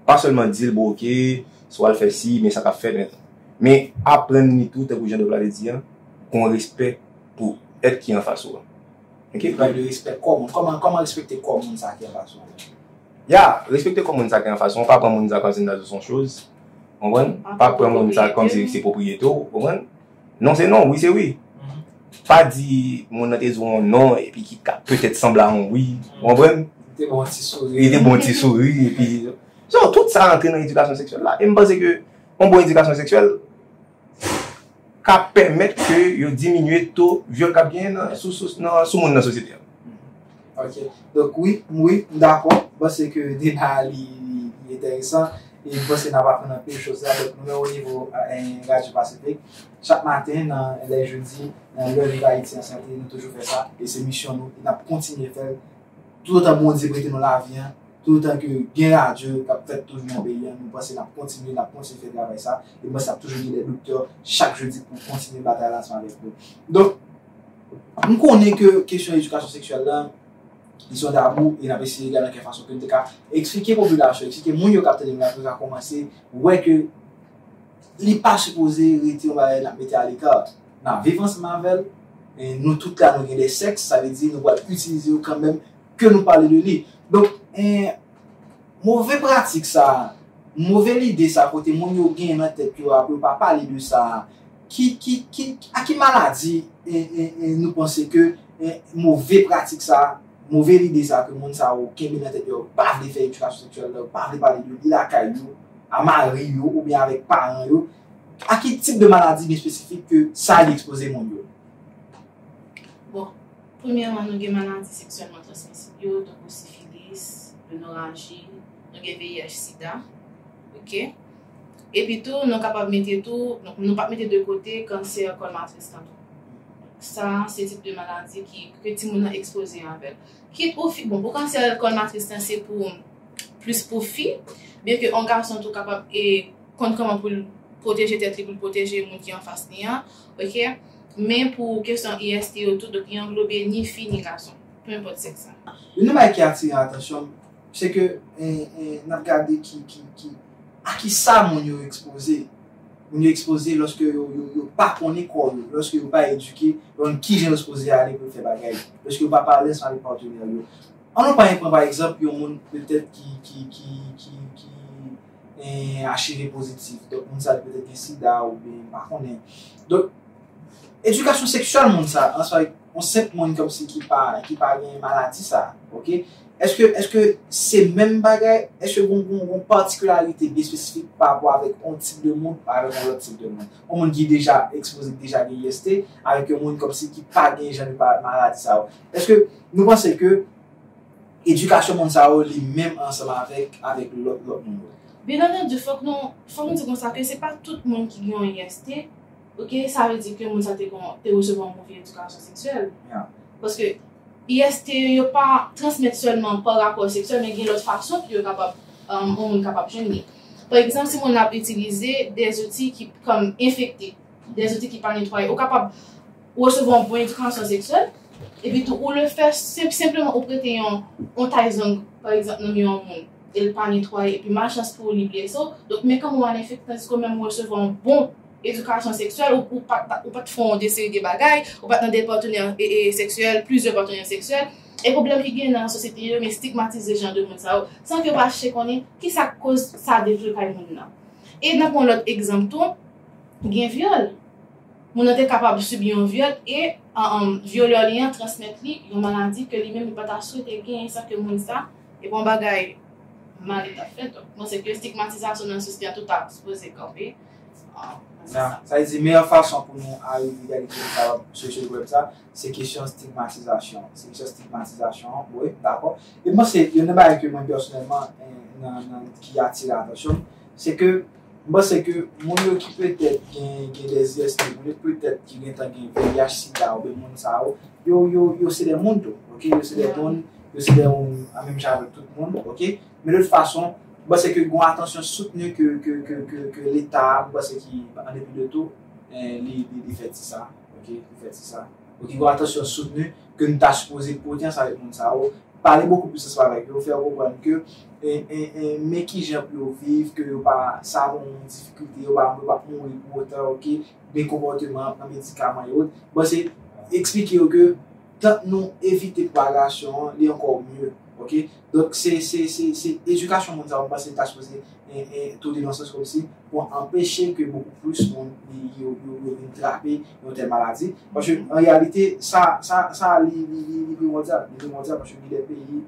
pa sèlman di l bon ok, si w al fè si, men sa k ap fèt, men. Men aprann li tou, tankou jan dòk la te di a, gen yon respè pou èt ki anfas ou an. Ok? Pale de respè kò moun. Kòman respekte kò moun sa a ki anfas ou an? Ya, respekte kò moun sa gen anfas ou an, pa pran moun sa kòmsi nan ou son choz, konprann, pa pran moun sa kòmsi li se pwopriyete ou, konprann, non se non, wi se wi, pa di moun nan te di w yon non epi ki ka petèt sanble a yon wi, ou konprann, li te ba w yon ti souri epi, so tout sa antre nan edikasyon seksyèl la, e m panse ke yon bon edikasyon seksyèl. ka pèmèt ke yo diminye to vyòl k ap genyen nan sou moun nan sosyete an. Ok. Donk wi, wi, m dakò. M panse ke deba a li enteresan. E m panse n ap aprann anpil choz la. Donk nou menm onivo Radyo Pasifik, chak maten nan lè jedi, nan lè Viv Ayiti an Sante, nou toujou fè sa. E se misyon nou. E n ap kontinye fè l toutotan Bondye prete nou lavi an. Toutotan ke gen radyo k ap fèt toujou nan peyi an, nou panse l ap kontinye, l ap kontinye fè travay sa. E mwen panse l ap toujou gen dè doktè chak jodi pou kontinye batay la ansanm avèk nou. Donk, m konnen ke kesyon edikasyon seksyèl la, li se yon tabou e n ap eseye gade nan ki fason ke n te ka eksplike popilasyon, eksplike moun yo k ap tande nou la pou yo ka kòmanse wè ke li pa sipoze rete yon bagay n ap mete aleka. N ap viv ansanm avè l. Nou tout la nou gen dè sèks, sa vle di nou pral itilize yo kanmèm. ke nou pale de li. Donk, move pratik sa a, move lide sa a kote moun yo gen nan tèt yo a pou yo pa pale de sa a, a ki maladi nou panse ke move pratik sa a, move lide sa a ke moun sa yo kenbe nan tèt yo a, yo pa vle fè edikasyon seksyèl la, yo pa vle pale de li lakay yo, a mari yo oubyen avèk paran yo, a ki tip de maladi byen espesifik ke sa li ekspoze moun yo? Bon, Premyèman, nou gen maladi seksyèlman transmisib yo, tankou sifilis, gonoraji, nou gen VIH sida, ok. Epi tou, nou kapab mete tou, nou pap mete de kote kansè kòl matris lan tou. Sa a, se tip de maladi ki, ke timoun nan ekspoze avè l. Kit ou fi, bon, pou kansè kòl matris lan se pou, plis pou fi, byen ke yon gason tou kapab e konn kòman pou l pwoteje tèt li, pou l pwoteje moun ki anfas li an. ok men pou kesyon IST yo tou donk li anglobe ni fi ni gason peu enpòt sèks la. Youn nan bagay ki atire atansyon m se ke n ap gade ki a kisa moun yo ekspoze moun yo ekspoze lòske yo pa konnen kò yo lòske yo pa edike yo konn kijan yo sipoze ale pou yo fè bagay lòske yo pa pa alèz pale patenè yo an nou pa pran pa egzanp yon moun petèt ki HIV pozitif, donk moun sa yo petèt gen sida oubyen m pa konnen. Donk, edikasyon seksyèl moun sa, ansanm avèk yon senp moun kòmsi ki pa gen maladi sa, ok, èske se menm bagay, èske gen yon patikilarite byen espesifik parapò avèk yon tip de moun avèk yon lòt tip de moun? Yon moun ki deja ekspoze, ki deja gen IST, avèk yon moun kòmsi ki pa gen jan de maladi sa yo. Èske nou panse ke. Edikasyon moun sa yo li menm ansanm avèk avèk lòt lòt moun yo. Byen antandi fòk nou fòk nou di konsa ke se pa tout moun ki gen yon IST ok sa vle di ke moun sa te gon te resevwa yon move edikasyon seksyèl paske IST yo yo pa transmèt sèlman pa rapò seksyèl men gen lòt fason ke yo kapab yon moun kapab jwenn li pa egzanp si moun nan ap itilize de zouti ki kòm enfekte de zouti ki pa netwaye ou kapab Ou resevwa yon bon edikansyon seksyèl, epi tou ou le fè senp senpleman ou prete yon yon tay zong pa egzanp nan men yon moun e l pa netwaye epi malchans pou ou li blese w donk men kòman w al enfekte tandiske ou menm ou resevwa yon bon edikasyon seksyèl ou ou pa ou pa t fè yon de seri de bagay ou pa t nan de patenè e e seksyèl plizyè patenè seksyèl e pwoblèm ki genyen nan sosyete yo men stigmatize jan de moun sa yo san ke yo pa chèche konnen ki sa k koz sa devlope kay moun nan e nan pran lòt egzanp tou gen vyòl. Moun nan te kapab sibi yon vyòl e vyolè li an transmèt li yon maladi ke li menm li pa ta swete genyen san ke moun sa te gen yon bagay mal li ta fè. Donk, panse ke stigmatizasyon nan sosyete a tou ta sipoze kanpe nan sans sa. Sa vle di meyè fason pou nou arive egalite nou kapab chèche pwoblèm sa, se kesyon stigmatizasyon an. Se kesyon stigmatizasyon an, wi, dakò. E m panse youn nan bagay ke mwen pèsonèlman nan ki atire atansyon m, se ke. M panse ke moun yo ki petèt gen de IST pou yo, petèt ki gentan gen VIH, sida oubyen moun sa yo, yo, yo se de moun tou, ok, yo se de moun, yo se de moun a menm jan avèk tout moun, ok. Men de tout fason, m panse ke gon atansyon soutni ke, ke, ke, ke, ke leta, m panse ki an depi de tou, li, li fè ti sa, ok, li fè ti sa. Ou gen yon atansyon soutni ke nou ta sipoze pote ansanm avèk moun sa yo, pale bokou plis ansanm avèk yo, fè yo konprann ke men kijan pou yo viv, ke yo pa sa bon moun difikilte, yo pa mouri pou otan, ok, men konpòteman, pran medikaman e ot. Bon se eksplike yo ke tank nou evite pwagasyon an li ankò mye, ok. Donk se edikasyon moun sa yo m panse ta sipoze toude nan sans kòmsi. pou anpeche ke bokou plis moun yo vin trape yon tèl maladi, paske an reyalite sa sa li primòdyal, li primòdyal paske gen de peyi,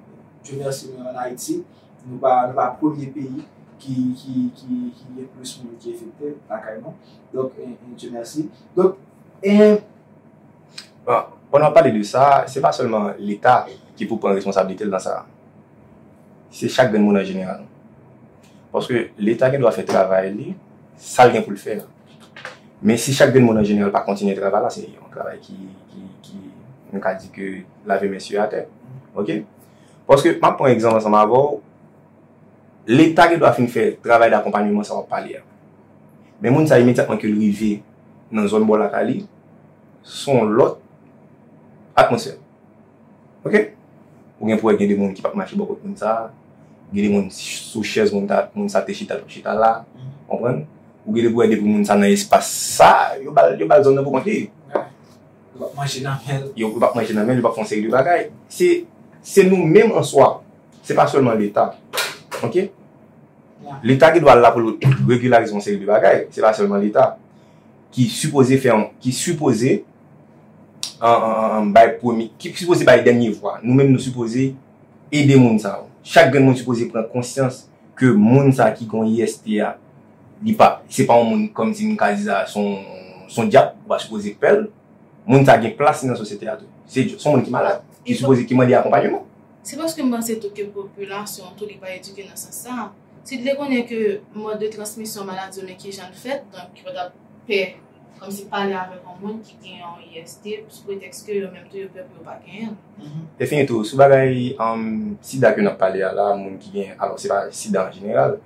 Dye mèsi nou an Ayiti, nou pa nou pa premye peyi ki ki ki gen plis moun ki enfekte lakay nou, donk Dye mèsi, donk e. Bon, pandan w ap pale de sa, se pa sèlman leta ki pou pran responsablite l nan sa, se chak grenn moun an jeneral. Paske leta gen dwa fè travay li, sa l gen pou l fè a. Men si chak grenn moun an jeneral pa kontinye travay la, se yon travay ki, ki, nou ka di ke lave men sye atè. Ok? Paske m ap pran egzanp ansanm avè w, leta gen dwa fin fè travay dakonpanyeman sa w ap pale a. Men moun sa imedyatman ke l rive nan zòn bò lakay li, s on lòt atmosfè. Ok Ou gen pou wè gen de moun ki pap mache bò kot moun sa Gen de moun sou chèz moun ta moun sa te chita l pap chita la Konprann Ou gen de pou wè depi moun sa nan espas sa yo ba l yo ba l zòn nan pou kont li Yo pap manje nan men l Yo pap manje nan men l yo pap fè yon seri de bagay Se se nou menm an swa Se pa sèlman leta Ok Leta gen dwa la pou l regilarize yon seri de bagay Se pa sèlman leta Ki sipoze fè yon Ki sipoze bay premye, ki sipoze bay dènye vwa. Nou menm nou sipoze ede moun sa yo. Chak grenn moun sipoze pran konsyans ke moun sa ki gen yon IST a, li pa, se pa yon moun kòm si m ka di sa, se yon, se yon dyab ou pa sipoze pè l. Moun sa gen plas li nan sosyete a tou. Se yon moun ki malad, ki sipoze, ki mande akonpanyeman. Se paske m panse tou ke popilasyon an tou li pa edike nan sans sa a. Si li te konnen ke mòd de transmisyon maladi yo men kijan l fèt, donk yo pa t ap pè. Kòmsi pale avèk yon moun ki gen yon IST sou pretèks ke yo menm tou yo pè pou yo pa genyen l. Defini tou, sou bagay sida ke n ap pale a la, moun ki gen, alò se pa sida an jeneral,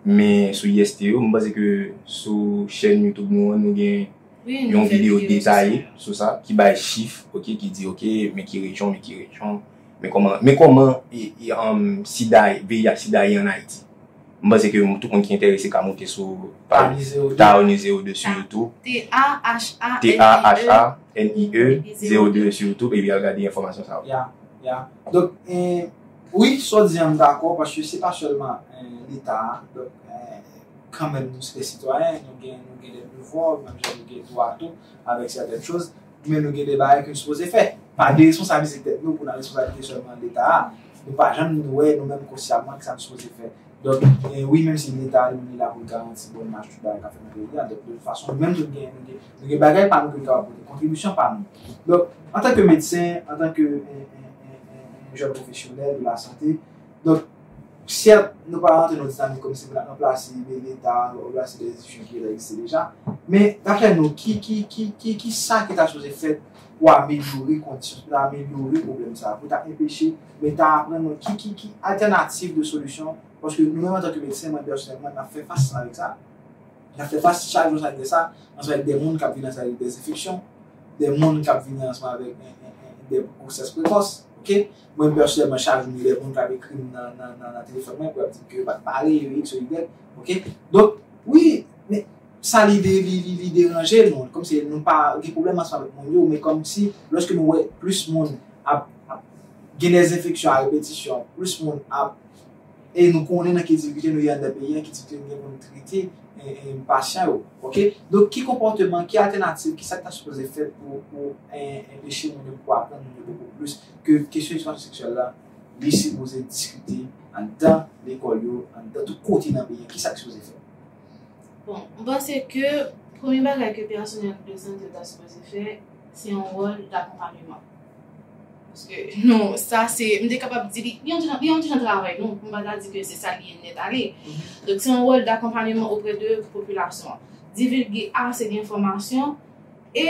men sou IST yo, m panse ke sou chèn YouTube nou an nou gen yon videyo detaye sou sa, ki bay chif, ok, ki di ok men ki rejyon, men ki rejyon, Men kòman men kòman sida VIH sida ye an Ayiti. M panse ke tout moun ki enterese ka monte sou paj Thaao Ni Zero Deux sou Youtube. T-h-a-h-a-n-i-e Zero Deux sou Youtube epi al gade enfòmasyon sa yo. Ya, ya. Donk, wi, sa w di an m dakò paske se pa sèlman Leta a. Donk, kanmenm nou se de sitwayen, nou gen dè devwa, menm jan nou gen dwa tou avèk sèten choz. Men nou gen de bagay ke nou sipoze fè. Pa deresponsabilize tèt nou pou nan responsabilize sèlman Leta a. Nou pa janm wè nou menm konsyaman kisa nou sipoze fè. Donk, wi menm si Leta li menm li la pou l garanti bon mach tout bagay k ap fèt nan peyi a, donk de tout fason nou menm tout gen nou gen bagay pa nou ke nou kapab pote, kontribisyon pa nou. Donk, antanke medsen, antanke yon jèn pwofesyonèl de lasante, Donk, sèt, nou pa rantre nan dinamik kòm si pou n ap ranplase de Leta, pou n ap ranplase de enstitisyon ki egziste deja. Men, daprè nou, ki, ki, ki, ki, ki sa ki ta sipoze fèt pou amelyore kondisyon, pou ta amelyore pwoblèm sa a, pou ta enpeche Leta a pran nou, ki, ki, ki altènativ de solisyon, paske nou menm antanke medsen, mwen pèsonèlman, n ap fè fas avèk sa, n ap fè fas chak jou sa ki fè sa, ansanm avèk de moun k ap vini ansanm avèk de enfeksyon, de moun k ap vini ansanm avèk de gwosès prekòs, ok. Mwen pèsonèlman chak jou m gen dè moun kap ekri m nan telefòn mwen pou yap di m ke yo pat pare yo x yo y ok donk wi men sa li li deranje nou kòmsi nou pa gen pwoblèm ansanm avèk moun yo men kòmsi lòske nou wè plis moun ap gen dezenfeksyon a repetisyon plis moun ap E nou konnen nan ki divize nou ye anndan peyi an, ki tip de moun pou nou trete pasyan yo. Ok. Donk ki konpòteman, ki altènativ, ki sa ki ta sipoze fèt pou enpeche moun yo pou aprann moun yo bokou plis ke kesyon edikasyon seksyèl la li sipoze diskite anndan lekòl yo, anndan tout kote nan peyi an. Ki sa ki sipoze fèt? Bon, m panse ke premye bagay ke pèsonèl de sante yo ta sipoze fè, se yon wòl dakonpanyeman. Paske nou, sa se, m te kapab di li, li yon ti jan, li yon ti jan travay nou, m pa ta di ke se sa li ye nèt ale. Donk se yon wòl dakonpanyeman oprè de popilasyon an. Divilge ase de enfòmasyon, e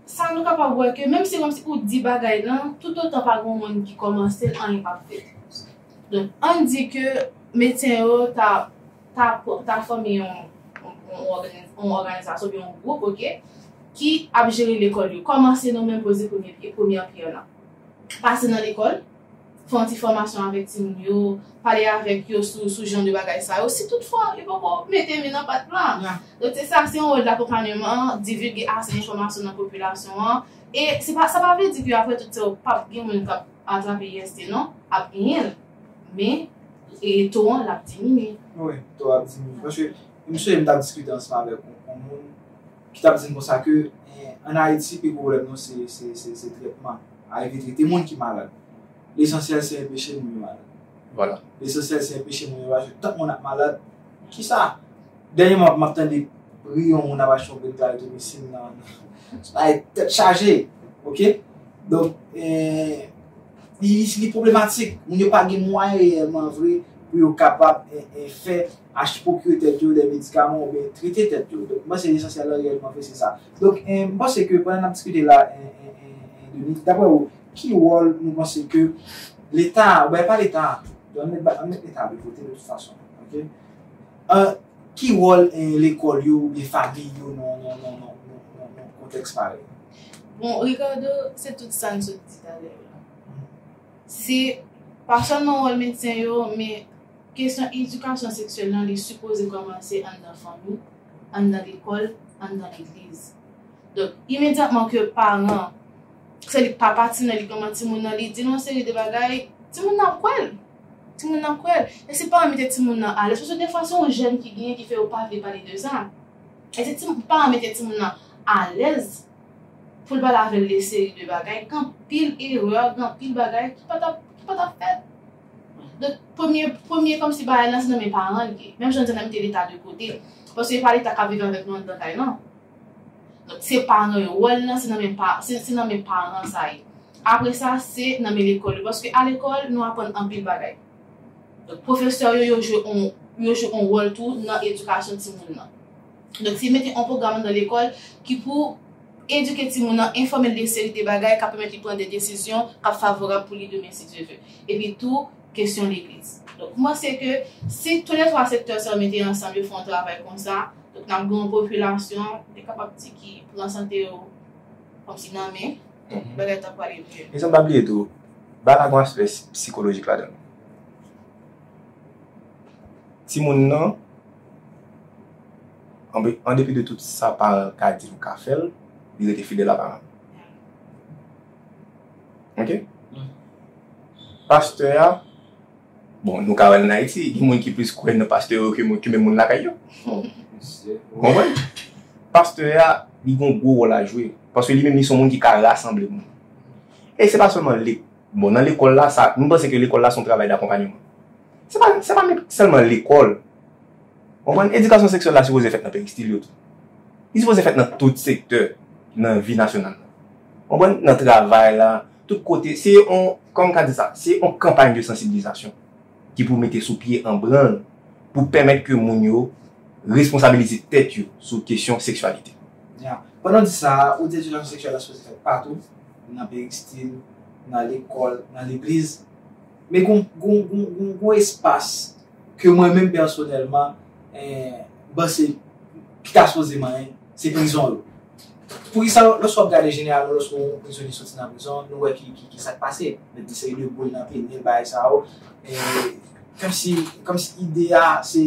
sa nou kapab wè ke menm se yon ti ou di bagay lan, toutotan pa gen yon moun ki kòmanse l, anyen p ap fèt. Donk, ann di ke medsen yo ta ta fòme yon òganizasyon oubyen yon gwoup ok ki ap jere lekòl yo kòman se nou menm poze premye pye premyè pyè lan pase nan lekòl fè yon ti fòmasyon avèk timoun yo pale avèk yo sou jan de bagay sa yo si tout fwa yo poko mete men nan pat plan donk se sa se yon wòl dakonpanyeman divilge ase enfòmasyon nan popilasyon an e sa pa vle di ke apre tout sa yo pap gen moun kap atrape IST non ap genyenl. Men, e to an l ap diminye. Wi, to a ap diminye. Paske, m sonje m t ap diskite ansanm avèk yon moun ki t ap di m konsa ke ann Ayiti pi gwo pwoblèm nou se trètman. Arive trete moun ki malad. Lesansyèl se enpeche moun yo malad. Vwala. Lesansyèl se enpeche moun yo malad. Paske tank moun ap malad, ki sa? Dènyeman, m ap tande bri yon moun ap achte yon brik klaritromycin nan. Bagay tèt chaje. Ok? Donk, e. Li pwoblematik, moun yo pa gen mwayen reyèlman vre pou yo kapab fè achte, pwokire tèt yo dè medikaman oubyen trete tèt yo. Donk, m panse lesansyèl lan reyèlman vre se sa. Donk, m panse ke pandan n ap diskite la, Denis, daprè ou, ki wòl nou panse ke Leta, oubyen pa Leta, an n mèt Leta vle vote de tout fason, oke, ki wòl lekòl yo oubyen famiy yo nan kontèks parèy? Bon Ricardo, se tout sa n sot di talè yo la. Se pa sèlman wòl medsen yo, men kesyon edikasyon seksyèl lan li sipoze kòmanse anndan fanmi, anndan lekòl, anndan legliz. Donk, imedyatman ke paran, se li papa timoun nan, li manman timoun nan, li di l yon seri de bagay, timoun nan ap kwè l. Timoun nan ap kwè l. E se paran mete timoun nan alèz, paske defwa se yon jèn ki genyen ki fè yo pa vle pale de sa. Ede timoun, pou paran mete timoun nan alèz pou l pale avè l de seri de bagay, anpil erè, anpil bagay ki pa tap ki pa tap fèt. Donk premye premye kòmsi bagay lan se nan men paran l ye. Menm jan n di an n a mete leta de kote, paske e pa leta k ap viv avèk nou anndan kay lan. Donk se paran yo, wòl lan se nan men pa se se nan men paran sa ye. Apre sa se nan men lekòl yo paske alekòl nou aprann anpil bagay. Pwofesè yo, yo jwe on, yo jwe on wòl tou nan edikasyon timoun nan. Donk se mete on pwogram anndan lekòl ki pou edike timoun nan, enfòme l de seri de bagay k ap pèmèt li pran de desizyon k ap favorab pou li demen si Dye ve. Epi tou, kesyon legliz. Donk m panse ke si tou le twa sektè sa yo mete ansanm yo fè on travay konsa, donk n ap gen on popilasyon, m te kapab di ki pran sante yo kòmsi nan men. Bagay ta pwale byen. Esan pa bliye tou, ba la gon aspè sikolojik ladan. Timoun nan, an depi de tout sa paran ka di l ka fè l, li rete fidèl a paran l. Ok? Pastè a. Bon, nou ka wè l ann Ayiti, gen moun ki plis kwè nan pastè yo ke menm moun lakay yo. Ou konprann? Pastè a, li gen yon gwo wòl a jwe. Paske li menm li se yon moun ki ka rasanble moun. E se pa sèlman lek. Bon, nan lekòl la, sa, nou panse ke lekòl la se yon travay dakonpanyeman. Se pa, se pa menm sèlman lekòl. Ou konprann? Edikasyon seksyèl la sipoze fèt nan peristil yo tou. Li sipoze fèt nan tout sektè nan vi nasyonal la. Ou konprann? Nan travay la. Tout kote, se yon, kòman m ka di sa, se yon kanpay de sansibilizasyon ki pou mete sou pye an branl pou pèmèt ke moun yo responsabilize tèt yo sou kesyon seksyalite. Ya. Pandan w di sa a, ou di edikasyon seksyèl la sipoze fèt patou, nan peristil, nan lekòl, nan legliz. Men gon, gon, gon, gon, gon espas ke mwen menm pèsonèlman, eh, m panse ki ta sipoze manyen, se prizon yo. Poukisa lòske wap gade jeneral nou lòske yon prizonye soti nan prizon nou wè ki sak pase met gen seri de boul nan pye li bagay sa yo kòmsi kòmsi ide a se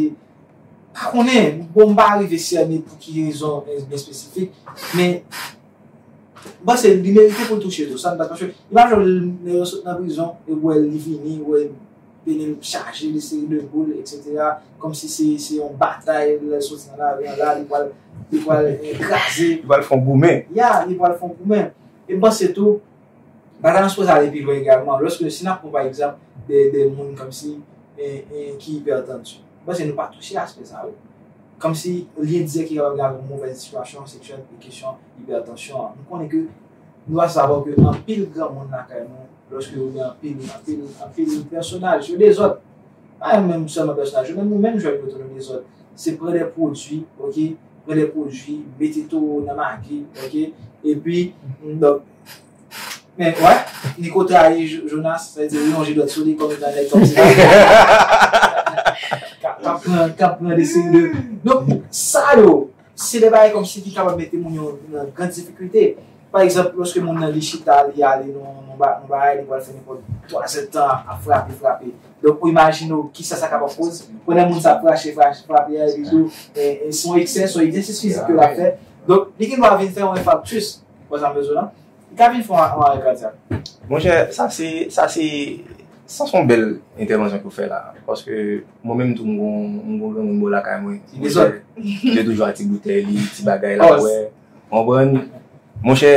pa konnen bon m pa arive sènen pou ki rezon byen espesifik men m panse li merite pou l touche tou sa m panse paske li pa janm lè yo sot nan prizon yo wè li vini wè Peyi m chaje de seri de boule etc. Komsi se se yon batay lèl soti nan lari an la li pwal li pwal kraze. Li pwal fon goumen. Ya li pwal fon goumen. E m panse tou bagay lan sipoze ale pi lwen egalman lòske si n ap pran pa egzanp de de moun komsi e ki ipètanti. M panse nou pa touche aspè sa wi. Komsi lyen dirèk ki kapab gen avèk yon movèz sitiyasyon seksyèl e kesyon ipètansyon an. Nou konnen ke. Nou va savo ke anpil gran moun lakay nou, loske yo gen anpil, anpil, anpil pèsonaj, yo dezòd. Pa yo menm sèlman pèsonaj yo, menm nou menm jwèt yo tou nou dezòd. Se pran de pwodui, ok, pran de pwodui, mete towo nan magi, ok, epi, donk, men, wè, Niko trayi Jonas, sa vle di li lonje dwèt sou li kòm etan nèg kòm sa. K ap pran, k ap pran de seri de. Donk, sa yo. Se de bagay kòmsi ki kapab mete moun yo nan gran difikilte. Pa egzanp, lòske moun nan li chita, li ale nan yon bagay, li pral fè nenpòt twazèd tan ap frape, frape. Donk ou imajine w kisa sa kapab koz. Pandan moun sa ap krache, krache, frape a, epitou se yon eksè, se yon egzèsis fizik ke l ap fè. Donk li gen dwa vin fè yon enfaktis, ou konprann sa m vle di w la? Gaby l fon ak anmare kadyak. Monchè sa se sa se sa son bèl entèvansyon ke w fè la paske mwen menm tou m gon m gon granmoun bò lakay mwen monchè ki te toujou ak ti boutèy li ti bagay l ap bwè ou konprann monchè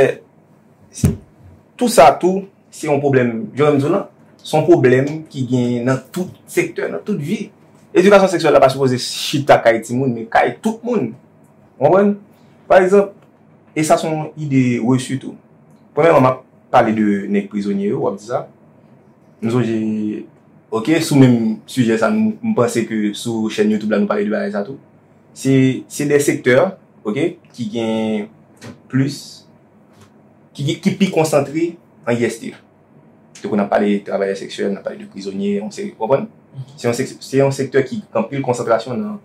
tou sa tou se yon pwoblèm jan m di w lan se yon pwoblèm ki genyen nan tout sektè nan tout vi edikasyon seksyèl la pa sipoze chita kay timoun men kay tout moun ou konprann pa egzanp. E sa son ide reçu tou. Premyèman map pale de nèg prizonye yo, wap di sa. M sonje ok sou menm sijè sa m panse ke sou chèn youtube la nou pale de bagay sa tou. Se se de sektè ok ki gen plis ki pi konsantre an IST. Tankou nap pale de travayè seksyèl, nap pale de prizonye, yon seri ou konprann? Se yon sektè ki anpil konsantrasyon nan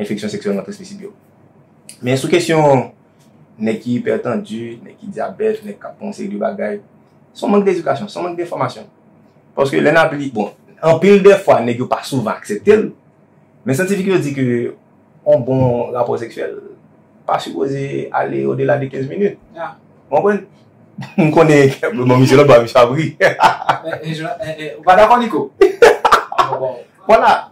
enfeksyon seksyèlman transmisib yo. Men sou kesyon nèg ki ipètandi, nèg ki dyabèt, nèg k ap pran yon seri de bagay, se yon mank dedikasyon, se yon mank denfòmasyon. Paske lè n ap li, bon, anpil de fwa nèg yo pa souvan aksepte l, men syantifik yo di ke yon bon rapò seksyèl pa sipoze ale odela de 15 minit. Ou konprann? M konnen ke, bon misye lòtbò a misye ap ri. Ou pa dakò Niko? Bon. Vwala.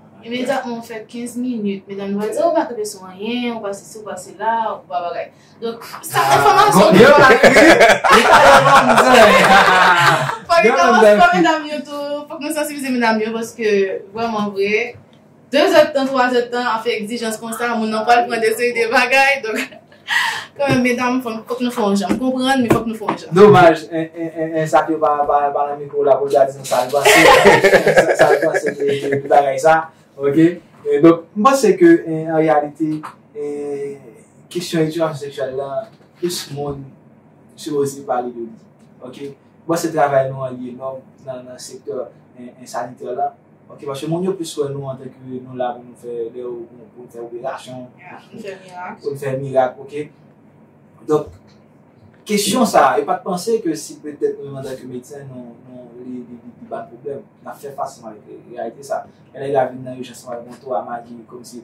Imedyatman ou fè 15 minit, medam yo va di, ou pa kenbe sou anyen, ou pa sesi, ou pa sela, ou pa bagay. Donk, sa enfòmasyon ki pa ri. Li pa yon manzè. Fòk li kòmanse pa medam yo tou. Fòk nou sansibilize medam yo paske vrèman vre, 2 zèdtan, 3 zèdtan, ap fè egzijans konsa, moun nan pral pran de seri de bagay. Kanmenm medam fòk nou fè yon jan. M konprann men fòk nou fè yon jan. Domaj 1 sa te pa nan mikwo la pou l ta di nou sa l panse. Sa l panse de bagay sa. Ok. Donk m panse ke an reyalite kesyon edikasyon seksyèl la plis moun sipoze pale de li. Ok. Bon se travay nou an liye non nan nan sektè en sanitè lan ok paske moun yo plis wè nou antan ke nou la pou nou fè lè yo pou n fè operasyon pou n fè mirak ok donk kesyon sa yo pat panse ke si petèt nou menm antan ke medsen nou li pa pwoblèm nap fè fas ansanm avèk reyalite sa lè nèg la vin nan ijans nou al gen 3 magi kòmsi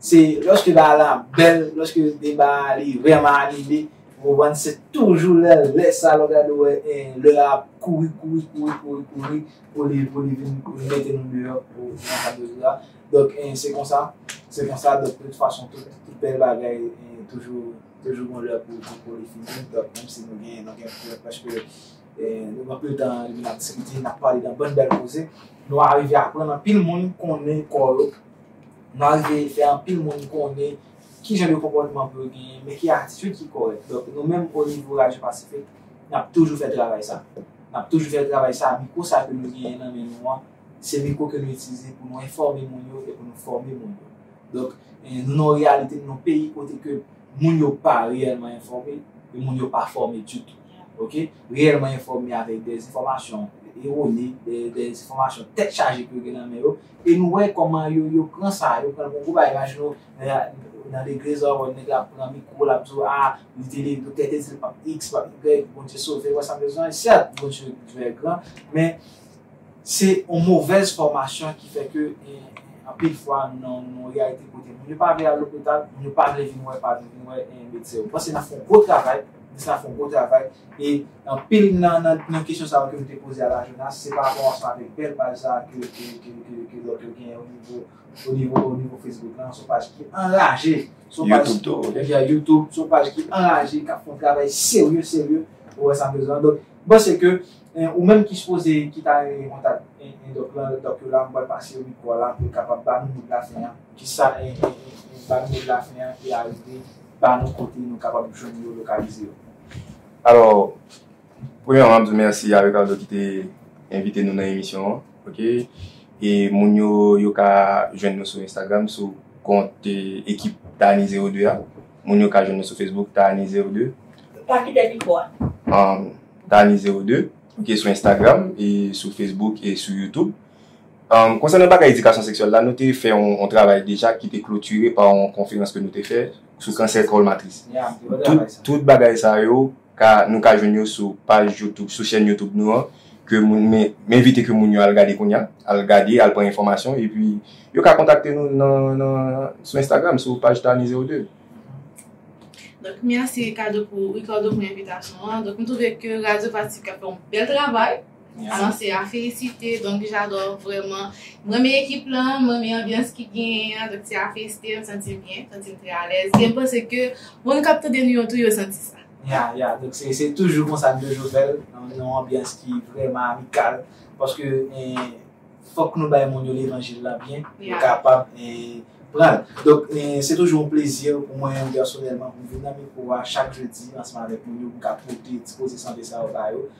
Se lòske bagay la ap bèl, lòske deba a li vrèman anime, ou konprann, se toujou lè lè sa lè w gade wè lè a ap kouri kouri kouri kouri kouri pou li pou li vin pou li mete nou deyò pou nan kad de deba. Donk se konsa, se konsa donk de tout fason tout bèl bagay toujou toujou gon lè pou pou li fini donk menm si nou gen nou gen prèv paske nou gen anpil tan depi n ap diskite n ap pale de anpil bèl koze nou arive aprann anpil moun konnen kò yo. Malgre le fè anpil moun konnen ki jan de konpòtman pou yo genyen, men ki atitid ki kòrèk. Donk nou menm o nivo Radyo Pasifik, n ap toujou fè travay sa. N ap toujou fè travay sa, mikwo sa ke nou genyen nan men nou an, se mikwo ke nou itilize pou nou enfòme moun yo e pou nou fòme moun yo. Donk nou nan yon reyalite, nou nan yon peyi kote ke moun yo pa reyèlman enfòme e moun yo pa fòme ditou. Ok? Reyèlman enfòme avèk dezenfòmasyon erone, dezenfòmasyon tèt chaje ke yo gen nan men yo, E nou wè kòman yo yo pran sa, yo pran l pou gwo bagay. Imajine w, nan legliz la, ou wè nèg la pran mikwo l ap di w, a, li te li, doktè te di l pap iks, pap igrèg, Bondye sove l, ou wè sa m vle di w la? Sèt, Bondye vè gran, men, se yon movèz fòmasyon ki fè ke anpil fwa nou nan yon reyalite kote moun yo pa vle al lopital, moun yo pa vle vin wè, pa vle vin wè medsen. Mwen panse n ap fè yon gwo travay, Minis la ap fè yon gwo travay E anpil nan nan kesyon sa yo ke m te poze a la Jonas, se pa rapò ansanm avèk bèl paj sa a ke ke lòt yo genyen onivo onivo onivo Facebook lan, son paj ki anraje, son paj YouTube tou ok ebyen YouTube, son paj ki anraje, k ap fè yon travay serye serye, ou wè sa m vle di lan. Donk, m panse ke ou menm ki sipoze ki ta renmen gen kontak Endòk lan, Endòk yo la, m pral pase yo mikwo a la pou yo kapab ba nou mo dlafen an, kisa en en en ba nou mo dlafen an e arive ba nou kote nou kapab jwenn yo, lokalize yo. Alò, premyèman m ap di mèsi a Ricardo ki te envite nou nan emisyon an. Ok. E moun yo, yo ka jwenn nou sou Instagram sou kont ekip Taani Zewo De a. Moun yo ka jwenn nou sou Facebook Taani Zewo De. Pa kite mikwo a. Taani Zewo De. Ok, sou Instagram e sou Facebook e sou YouTube. Konsènan bagay edikasyon seksyèl la, nou te fè yon travay deja ki te klotire pa yon konferans ke nou te fè. sou kansè kòl matris. Tout bagay sa yo ka nou ka jwenn yo sou paj youtube sou chèn youtube nou an ke moun men m envite ke moun yo al gade kounya al gade al pran enfòmasyon epi yo ka kontakte nou nan nan sou instagram sou paj Tani 02. Donk merci Ricardo pou Ricardo pou envitasyon an donk m twouve ke radyo Pacifica fè yon bèl travay. Alan se a felisite donk jadò vrèman m renmen ekip lan m renmen anbyans ki genyen an donk se a felisite m santi m byen m santi m trè alèz e m panse ke moun k ap tande nou yo tou yo santi sa. Ya ya donk se toujou konsa n toujou fè l nan yon anbyans ki vrèman amikal paske fòk nou bay moun yo levanjil la byen pou yo kapab pran l donk se toujou yon plezi pou mwen pèsonèlman pou m vin nan mikwo a chak jedi ansanm avèk moun yo pou m ka pote ti koze sante sa yo ba yo.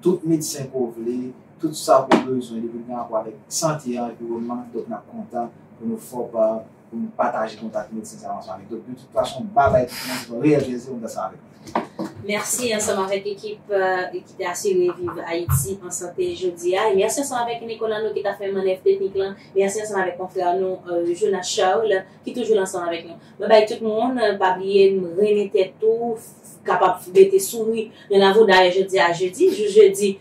Tout medsen ke w vle, tout sa ke w bezwen depi gen rapò avèk sante e anviwònman, donk n ap kontan pou nou fè w pa, pou nou pataje kontak medsen sa yo ansanm avèk. Donk de tout fason, ba bay tout moun, se yon reyèl plezi pou m fè sa avèk nou. Mèsi ansanm avèk ekip ki te asire Viv Ayiti an sante jodi a. E mèsi ansanm avèk Nicolas nou ki ta fè mannèv teknik lan. Mèsi ansanm avèk konfrè nou Jonas Charles ki toujou la ansanm avèk nou. Mwen bay tout moun pa bliye renmen tèt tou kapab mete souri nan lavo dayè jodi a jedi jou jedi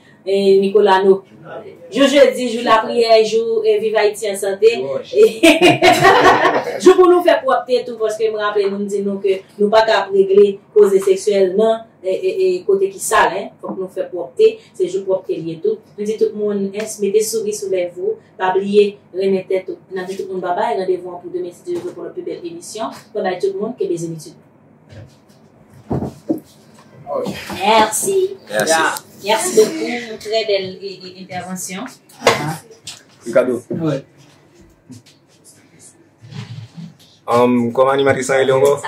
Nicolas nou jou jedi jou lapriyè jou viv Ayiti an sante jou pou nou fè pwòpte tou paske m raple nou m di nou ke nou pa ka ap regle koze seksyèl nan kote ki sal fòk nou fè pwòpte se jou pwòpte l ye tou m di tout moun mete souri sou lèv ou. Pa bliye renmen tèt ou. Nap di tout moun babay randevou an pou demen si Dye vle pou lòt pi bèl emisyon mwen bay tout moun ke bezenitid. Merci. Merci. Merci beaucoup. Très belle intervention. Ricardo. Ouais. Um, comment animatrice ça est encore?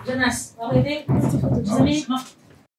Jonas, arrêtez.